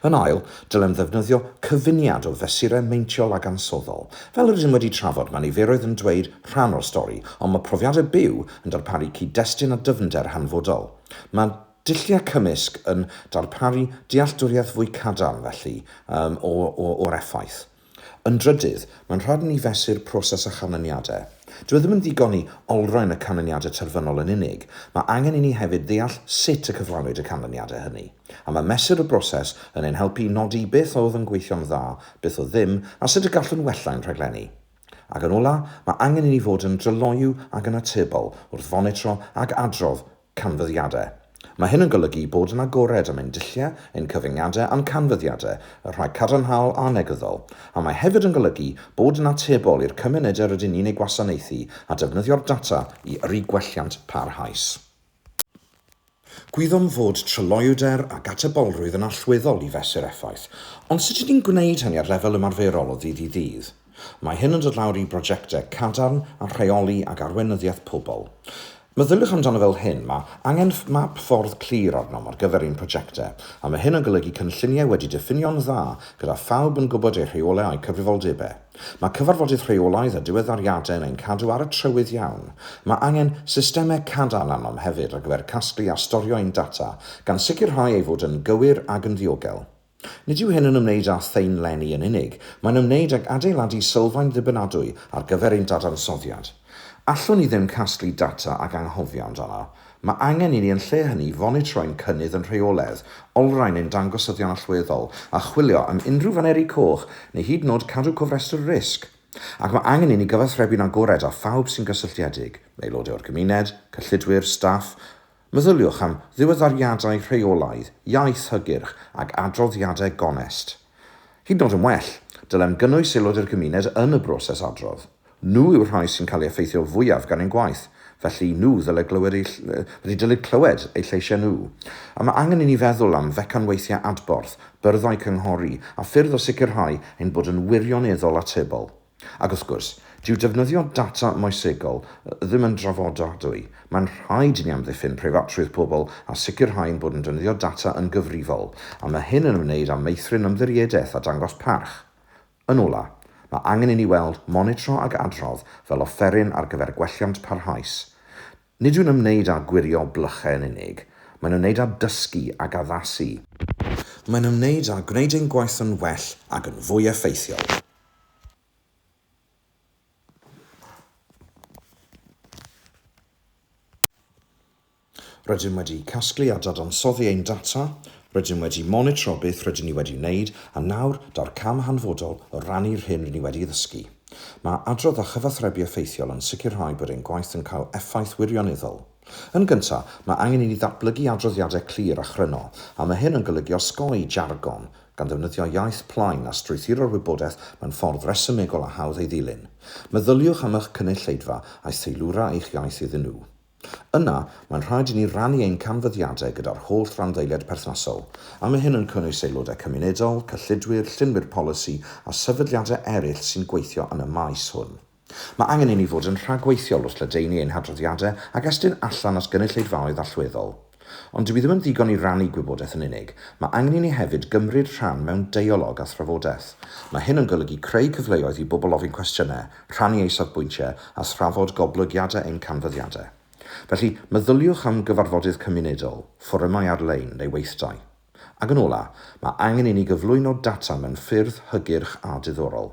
Yn ail, dylem ddefnyddio cyfuniad o fesurau meintiol ac ansoddol. Fel rydym wedi trafod, mae niferoedd yn dweud rhan o'r stori, ond mae profiadau byw yn darparu cyd-destun a dyfnder hanfodol. Mae dulliau cymysg yn darparu dealltwriaeth fwy cadarn, felly, o'r effaith. Yn drydydd, mae'n rhaid i ni fesur proses a chanlyniadau. Dyw e ddim yn ddigon i olrhain y canlyniadau terfynol yn unig, mae angen i ni hefyd ddeall sut y cyflawnwyd y canlyniadau hynny. A mae mesur y broses yn ein helpu i nodi beth oedd yn gweithio'n dda, beth oedd ddim, a sut y gallwn wella ein rhaglenni. Ac yn ola', mae angen i ni fod yn dryloyw ac yn atebol wrth fonitro ac adrodd Canfyddiadau. Mae hyn yn golygu bod yn agored am ein dulliau, ein cyfyngiadau a'n canfyddiadau, y rhai cadarnhaol a'r negyddol, a mae hefyd yn golygu bod yn atebol i'r cymunedau rydyn ni'n eu gwasanaethu a defnyddio'r data i yrru gwelliant parhaus. Gwyddom fod tryloywder ac atebolrwydd yn allweddol i fesur effaith, ond sut ydyn ni'n gwneud hynny ar lefel ymarferol o ddydd i ddydd? Mae hyn yn dod lawr i brosiectau cadarn a rheoli ag arweinyddiaeth pobl. Meddyliwch amdano fel hyn, mae angen map ffordd clir arnom ar gyfer ein prosiectau, a mae hyn yn golygu cynlluniau wedi diffinio'n dda gyda phawb yn gwybod eu rheolau a'u cyfrifoldebau. Mae cyfarfodydd rheolaidd a diweddariadau yn ein cadw ar y trywydd iawn. Mae angen systemau cadarn arnom hefyd ar gyfer casglu a storio ein data, gan sicrhau ei fod yn gywir ag yn ddiogel. Nid yw hyn yn ymwneud â thaenlenni yn unig, mae'n ymwneud ag adeiladu sylfaen ddibynadwy ar gyfer ein dadansoddiad. Allwn ni ddim casglu data ac anghofio amdano. Mae angen i ni yn lle hynny fonitro ein cynnydd yn rheoledd, olrhain ein dangosyddion allweddol, a chwilio am unrhyw faneri coch neu hyd yn oed cadw cofrestr risg. Ac mae angen i ni gyfathrebu'n agored â phawb sy'n gysylltiedig, aelodau o'r gymuned, cyllidwyr, staff, Meddyliwch am ddiweddariadau rheolaidd, iaith hygyrch ac adroddiadau gonest. Hyd yn oed yn well, dylem gynnwys aelod o'r gymuned yn y broses adrodd. Nhw yw'r rhai sy'n cael eu effeithio fwyaf gan ein gwaith, felly nhw ddyle glywed eu felly dylid clywed eu lleisiau nhw. A mae angen i ni feddwl am fecanweithiau adborth, byrddau cynghori a ffyrdd o sicrhau ein bod yn wirioneddol atebol. Ac wrth gwrs, dyw defnyddio data moesegol ddim yn drafodadwy. Mae'n rhaid i ni amddiffyn preifatrwydd pobl a sicrhau ein bod yn defnyddio data yn gyfrifol, a mae hyn yn ymwneud â meithrin ymddiriedaeth a dangos parch. Yn ola', mae angen i ni weld monitro ac adrodd fel offeryn ar gyfer gwelliant parhaus. Nid yw'n ymwneud â gwirio blychau yn unig, mae'n ymwneud â dysgu ac addasu. Mae'n ymwneud â gwneud ein gwaith yn well ac yn fwy effeithiol. Rydym wedi casglu a dadansoddi ein data, rydym wedi monitro beth rydyn ni wedi wneud, a nawr, daw'r cam hanfodol o rannu'r hyn rydyn ni wedi ei ddysgu. Mae adrodd a chyfathrebu effeithiol yn sicrhau bod ein gwaith yn cael effaith wirioneddol. Yn gyntaf, mae angen i ni ddatblygu adroddiadau clir a chryno, a mae hyn yn golygu osgoi jargon, gan ddefnyddio iaith plaen a strwythuro'r wybodaeth mewn ffordd resymegol a hawdd ei ddilyn. Meddyliwch am eich cynulleidfa a'i theilwra eich iaith iddyn nhw. Yna, mae'n rhaid i ni rannu ein canfyddiadau gyda'r holl randdeiliaid perthnasol, a mae hyn yn cynnwys aelodau cymunedol, cyllidwyr, llunwyr polisi a sefydliadau eraill sy'n gweithio yn y maes hwn. Mae angen i ni fod yn rhagweithiol wrth ledaenu ein hadroddiadau ac estyn allan at gynulleidfaoedd allweddol. Ond dyw i ddim yn ddigon i rannu gwybodaeth yn unig, mae angen i ni hefyd gymryd rhan mewn deialog a thrafodaeth. Mae hyn yn golygu creu cyfleoedd i bobl ofyn cwestiynau, rhannu eu safbwyntiau a thrafod goblygiadau ein canfyddiadau. Felly, meddyliwch am gyfarfodydd cymunedol, fforymau ar-lein neu weithdai. Ac yn ola', mae angen i ni gyflwyno data mewn ffyrdd hygyrch a diddorol.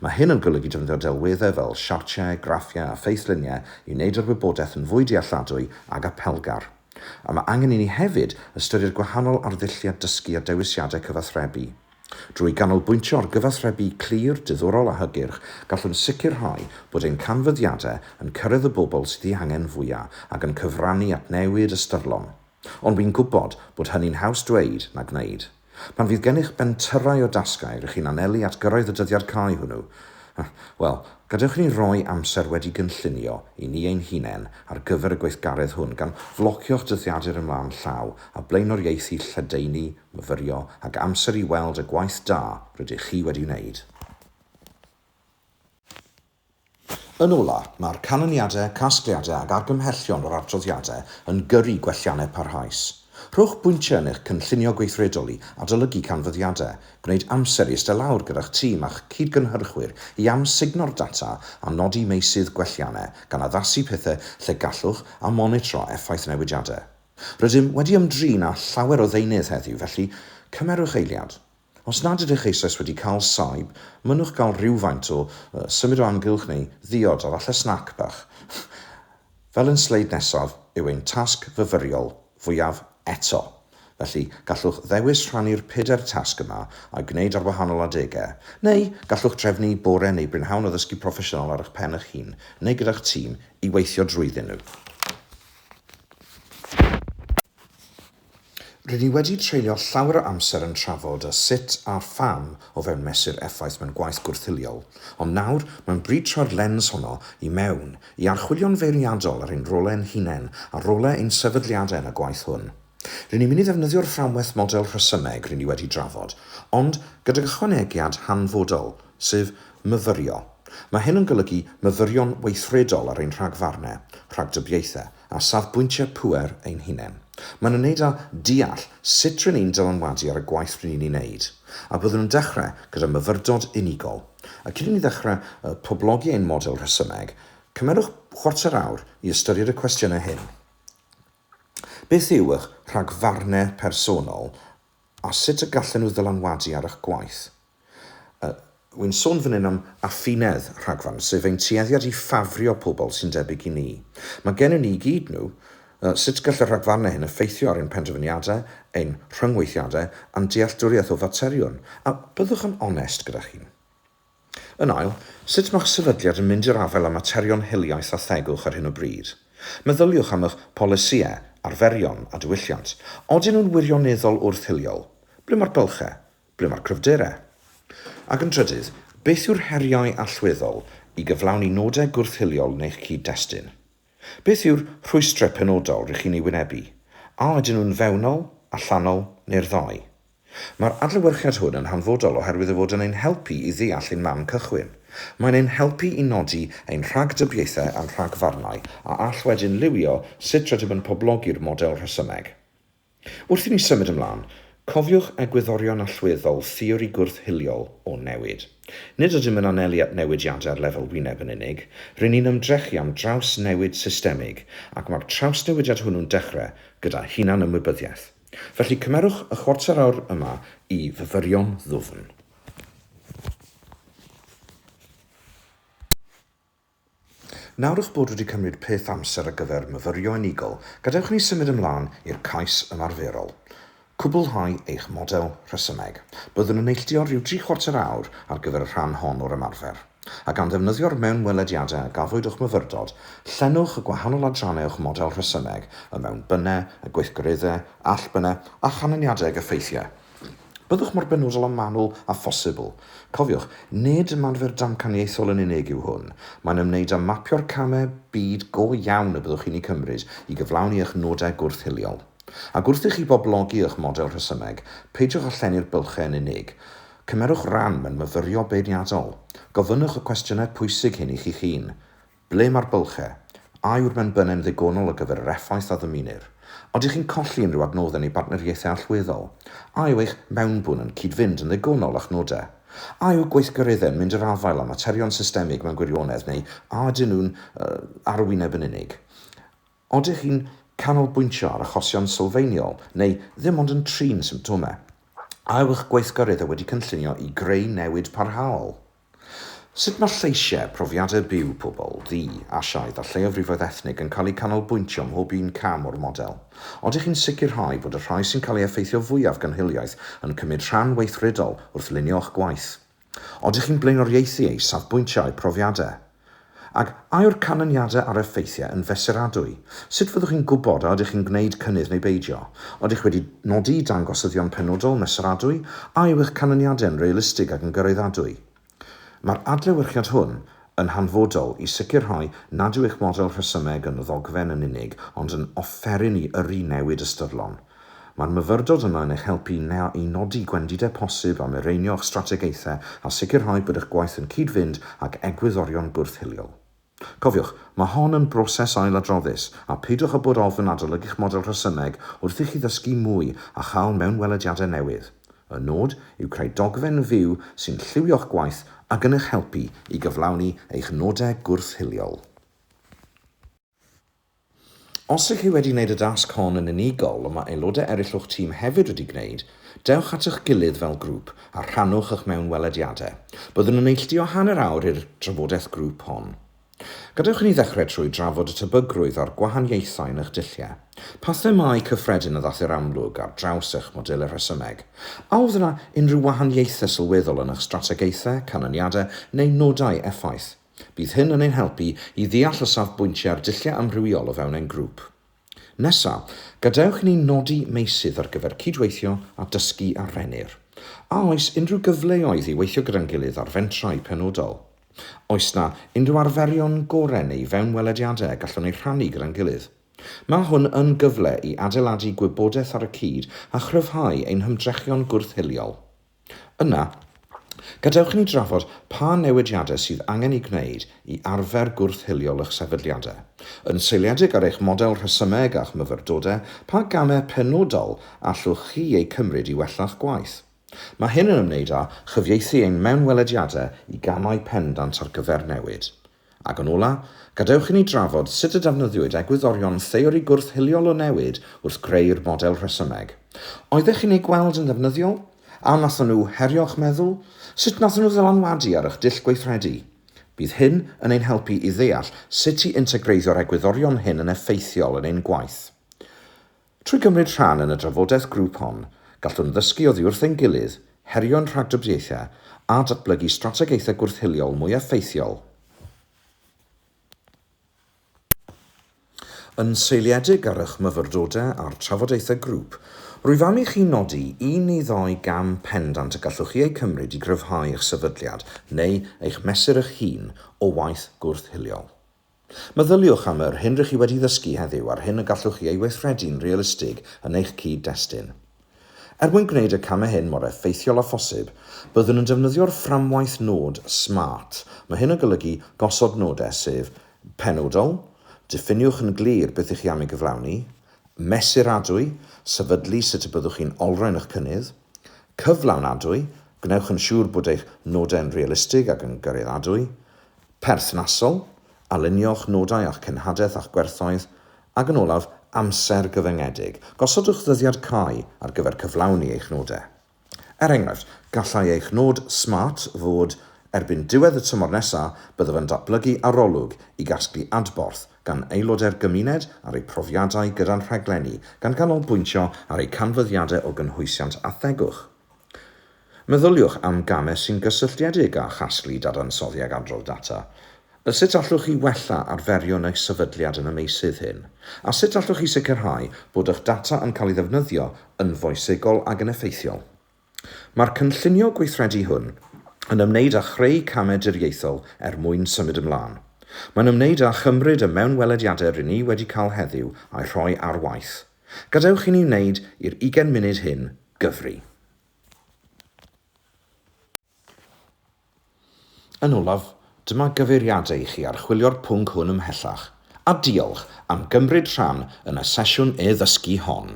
Mae hyn yn golygu defnyddio delweddau fel siartiau, graffiau a ffeithluniau i wneud yr wybodaeth yn fwy dealladwy ac apelgar. A mae angen i ni hefyd ystyried gwahanol arddulliau dysgu a dewisiadau cyfathrebu. Drwy ganolbwyntio ar gyfathrebu clir, diddorol a hygyrch, gallwn sicrhau bod ein canfyddiadau yn cyrraedd y bobl sydd ei angen fwyaf ac yn cyfrannu at newid ystyrlon. Ond wi'n gwybod bod hynny'n haws dweud na gwneud. Pan fydd gennych bentyrrau o dasgau rŷch chi'n anelu at gyrraedd y dyddiad cau hwnnw, wel, gadewch i ni roi amser wedi gynllunio i ni ein hunain ar gyfer y gweithgaredd hwn gan flocio'ch dyddiadur ymlaen llaw a blaenoriaethu lledaenu, myfyrio ac amser i weld y gwaith da rydych chi wedi wneud. Yn ola', mae'r canlyniadau, casgliadau ac argymhellion o'r adroddiadau yn gyrru gwelliannau parhaus. Rhowch bwyntiau yn eich cynllunio gweithredol i adolygu canfyddiadau, gwneud amser i ystod lawr gyda'ch tîm a'ch cyd-gynhyrchwyr i amsugno'r data a nodi meysydd gwelliannau, gan addasu pethau lle gallwch a monitro effaith newidiadau. Rydym wedi ymdrin â llawer o ddeunydd heddiw, felly cymerwch eiliad. Os nad ydych eisoes wedi cael saib, mynnwch gael rhywfaint o symud o amgylch neu ddiod a falle snac bach, fel yn sleid nesaf, yw ein tasg fyfyriol fwyaf eto. Felly, gallwch ddewis rhannu'r pedair tasg yma a'u gwneud ar wahanol adegau, neu gallwch drefnu bore neu brynhawn o ddysgu proffesiynol ar eich pen eich hun neu gyda'ch tîm i weithio drwyddyn nhw. Rŷn ni wedi treulio llawer o amser yn trafod y sut a'r pham o fewn mesur effaith mewn gwaith gwrth-hiliol, ond nawr mae'n bryd troi'r lens honno i mewn, i archwilio'n feirniadol ar ein rolau ein hunain a rolau ein sefydliadau yn y gwaith hwn. Rŷn ni'n mynd i ddefnyddio'r fframwaith model rhesymeg rŷn ni wedi drafod, ond gydag ychwanegiad hanfodol, sef myfyrio. Mae hyn yn golygu myfyrio'n weithredol ar ein rhagfarnau, rhagdybiaethau, a safbwyntiau pŵer ein hunain. Mae'n ymwneud â deall sut ry'n ni'n dylanwadu ar y gwaith ry'n ni'n ei wneud, a byddwn yn dechrau gyda myfyrdod unigol. A cyn i ni ddechrau poblogi ein model rhesymeg, cymerwch chwarter awr i ystyried y cwestiynau hyn, Beth yw eich rhagfarnau personol A sut y gallen nhw ddylanwadu ar eich gwaith? Yy, wi'n sôn fan hyn am affinedd, rhagfarn, sef ein tueddiad i ffafrio pobl sy'n debyg i ni. Mae gennym ni i gyd nhw. Yy, sut gall y rhagfarnau hyn effeithio ar ein penderfyniadau, ein rhyngweithiadau, a'n dealltwriaeth o faterion? A byddwch yn onest gyda'ch hun. Yn ail, sut mae'ch sefydliad yn mynd i'r afael â materion hiliaeth a thegwch ar hyn o bryd? Meddyliwch am eich polisïau, arferion a diwylliant. Odyn nhw'n wirioneddol wrth-hiliol? Ble mae'r bylchau? Ble mae'r cryfderau? Ac yn drydydd, beth yw'r heriau allweddol i gyflawni nodau gwrth-hiliol yn eich cyd-destun? Beth yw'r rhwystrau penodol rŷch chi'n eu wynebu? A ydyn nhw'n fewnol, allanol neu'r ddau? Mae'r adlewyrchiad hwn yn hanfodol oherwydd ei fod yn ein helpu i ddeall ein man cychwyn. Mae'n ein helpu i nodi ein rhagdybiaethau a'n rhagfarnau, a all wedyn liwio sut rydym yn poblogi'r model rhesymeg. Wrth i ni symud ymlaen, cofiwch egwyddorion allweddol theori gwrth-hiliol o newid. Nid ydym yn anelu at newidiadau ar lefel wyneb yn unig, ry'n ni'n ymdrechu am drawsnewid systemig, ac mae'r trawsnewidiad hwnnw'n dechrau gyda hunan-ymwybyddiaeth. Felly cymerwch y chwarter awr yma i fyfyrio'n ddwfn. Nawr eich bod wedi cymryd peth amser ar gyfer myfyrio unigol, gadewch i ni symud ymlaen i'r cais ymarferol. Cwblhau eich model rhesymeg. Byddwn yn neilltuo rhyw dri chwarter awr ar gyfer y rhan hon o'r ymarfer. a gan ddefnyddio'r mewnwelediadau a gafwyd o'ch myfyrdod, llenwch y gwahanol adrannau o'ch model rhesymeg, y mewnbynnau, y gweithgareddau, allbynnau, a chanlyniadau ag effeithiau. Byddwch mor benodol a manwl â phosibl. Cofiwch, nid ymarfer damcaniaethol yn unig yw hwn, mae'n ymwneud â mapio'r camau byd go iawn y byddwch chi'n eu cymryd i gyflawni eich nodau gwrth-hiliol. Ac wrth i chi boblogi eich model rhesymeg, peidiwch â llenwi'r bylchau yn unig, Cymerwch ran mewn myfyrio beirniadol. Gofynnwch y cwestiynau pwysig hyn i chi'ch hun, Ble mae'r bylchau? A yw'r menbynau'n ddigonol ar gyfer yr effaith a ddymunir? Odych chi'n colli unrhyw adnoddau neu bartneriaethau allweddol? A yw eich mewnbwn yn cyd-fynd yn ddigonol â'ch nodau? A yw gweithgareddau'n mynd i'r afael â materion systemig mewn gwirionedd neu a ydyn nhw'n arwyneb yn unig? Ydych chi'n canolbwyntio ar achosion sylfaeniol neu ddim ond yn trin symptomau? A yw'ch gweithgareddau wedi cynllunio i greu newid parhaol? Sut mae lleisiau, profiadau byw pobl, ddu, Asiaidd a lleiafrifoedd ethnig yn cael eu canolbwyntio ym mhob un cam o'r model? Ydych chi'n sicrhau bod y rhai sy'n cael ei effeithio fwyaf gan hiliaeth yn cymryd rhan weithredol wrth lunio'ch gwaith? Oeddech chi'n blaenoriaethu eu safbwyntiau a'u profiadau? Ac a yw'r canlyniadau a'r effeithiau yn fesuradwy? Sut fyddwch chi'n gwybod a ydych chi'n gwneud cynnydd neu beidio? Oeddech wedi nodi dangosyddion penodol, mesuradwy? A yw eich canlyniadau yn realistig ac yn gyraeddadwy? Mae'r adlewyrchiad hwn yn hanfodol i sicrhau nad yw eich model rhesymeg yn ddogfen yn unig ond yn offeryn i yrru newid ystyrlon. Mae'r myfyrdod yma yn eich helpu i nodi gwendidau posib a mireinio'ch strategaethau a sicrhau bod eich gwaith yn cyd-fynd ag egwyddorion bwrdd hiliol. Cofiwch, mae hon yn broses ailadroddus, a peidiwch â bod ofn adolygu'ch model rhesymeg wrth i chi ddysgu mwy a chael mewnwelediadau newydd. Y nod yw creu dogfen fyw sy'n lliwio'ch gwaith ac yn eich helpu i gyflawni eich nodau gwrth-hiliol. Os ych chi wedi gwneud y dasg hon yn unigol, ond mae aelodau eraill o'ch tîm hefyd wedi gwneud, dewch at eich gilydd fel grŵp a rhannwch eich mewnwelediadau. Byddwn yn neilltuo hanner awr i'r drafodaeth grŵp hon. Gadewch i ni ddechrau trwy drafod y tebygrwydd a'r gwahaniaethau yn eich dulliau. Pa themâu cyffredin a ddaeth i'r amlwg ar draws eich modelau rhesymeg? A oedd yna unrhyw wahaniaethau sylweddol yn eich strategaethau, canlyniadau neu nodau effaith? Bydd hyn yn ein helpu i ddeall y safbwyntiau a'r dulliau amrywiol o fewn ein grŵp. Nesa, gadewch i ni nodi meysydd ar gyfer cydweithio a dysgu â Rhennir. A oes unrhyw gyfleoedd i weithio gyda'n gilydd ar fentrau penodol? Oes 'na unrhyw arferion gorau neu fewnwelediadau y gallwn eu rhannu gyda'n gilydd? Mae hwn yn gyfle i adeiladu gwybodaeth ar y cyd a chryfhau ein hymdrechion gwrth-hiliol. Yna, gadewch i ni drafod pa newidiadau sydd angen eu gwneud i arfer gwrth-hiliol eich sefydliadau. Yn seiliedig ar eich model rhesymeg a'ch myfyrdodau, pa gamau penodol allwch chi eu cymryd i wella'ch gwaith? Mae hyn yn ymwneud â chyfieithu ein mewnwelediadau i gamau pendant ar gyfer newid. Ac yn ola', gadewch i ni drafod sut y defnyddiwyd egwyddorion theori gwrth-hiliol o newid wrth greu'r model rhesymeg. Oeddech chi'n eu gweld yn ddefnyddiol? A wnaethon nhw herio'ch meddwl? Sut wnaethon nhw ddylanwadu ar eich dull gweithredu? Bydd hyn yn ein helpu i ddeall sut i integreiddio'r egwyddorion hyn yn effeithiol yn ein gwaith. Trwy gymryd rhan yn y drafodaeth grŵp hon, gallwn ddysgu oddi wrth ein gilydd, herio'n rhagdybiaethau a datblygu strategaethau gwrth-hiliol mwy effeithiol. Yn seiliedig ar eich myfyrdodau a'r trafodaethau grŵp, rwyf am i chi nodi un neu ddau gam pendant y gallwch chi eu cymryd i gryfhau eich sefydliad neu eich mesur eich hun o waith gwrth-hiliol. Meddyliwch am yr hyn rŷch chi wedi ddysgu heddiw a'r hyn y gallwch chi ei weithredu'n realistig yn eich cyd-destun. Er mwyn gwneud y camau hyn mor effeithiol â phosib, byddwn yn defnyddio'r fframwaith nod SMART. Mae hyn yn golygu gosod nodau, sef, penodol, diffiniwch yn glir beth ych chi am ei gyflawni, mesuradwy, sefydlu sut y byddwch chi'n olrhain eich cynnydd, cyflawnadwy, gwnewch yn siŵr bod eich nodau'n realistig ac yn gariadwy, Perthnasol, Alunio'ch nodau â'ch cenhadaeth a'ch gwerthoedd, ac yn olaf, amser gyfyngedig. Gosodwch ddyddiad cau ar gyfer cyflawni eich nodau. Er enghraifft, gallai eich nod smart fod Erbyn diwedd y tymor nesaf, byddaf yn datblygu arolwg i gasglu adborth gan aelodau'r gymuned ar eu profiadau gyda'n rhaglenni, gan ganolbwyntio ar eu canfyddiadau o gynhwysiant a thegwch. Meddyliwch am gamau sy'n gysylltiedig â chasglu dadansoddi ac adrodd data. Sut allwch chi wella arferion eich sefydliad yn y meysydd hyn? A sut allwch chi sicrhau bod eich data yn cael ei ddefnyddio yn foesegol ac yn effeithiol? Mae'r cynllunio gweithredu hwn yn ymwneud â chreu camau diriaethol er mwyn symud ymlaen. Mae'n ymwneud â chymryd y mewnwelediadau rŷn ni wedi cael heddiw a'u rhoi ar waith. Gadewch i ni wneud i'r ugain munud hyn gyfri. Yn olaf, dyma gyfeiriadau i chi archwilio'r pwnc hwn ymhellach, a diolch am gymryd rhan yn y sesiwn e-ddysgu hon.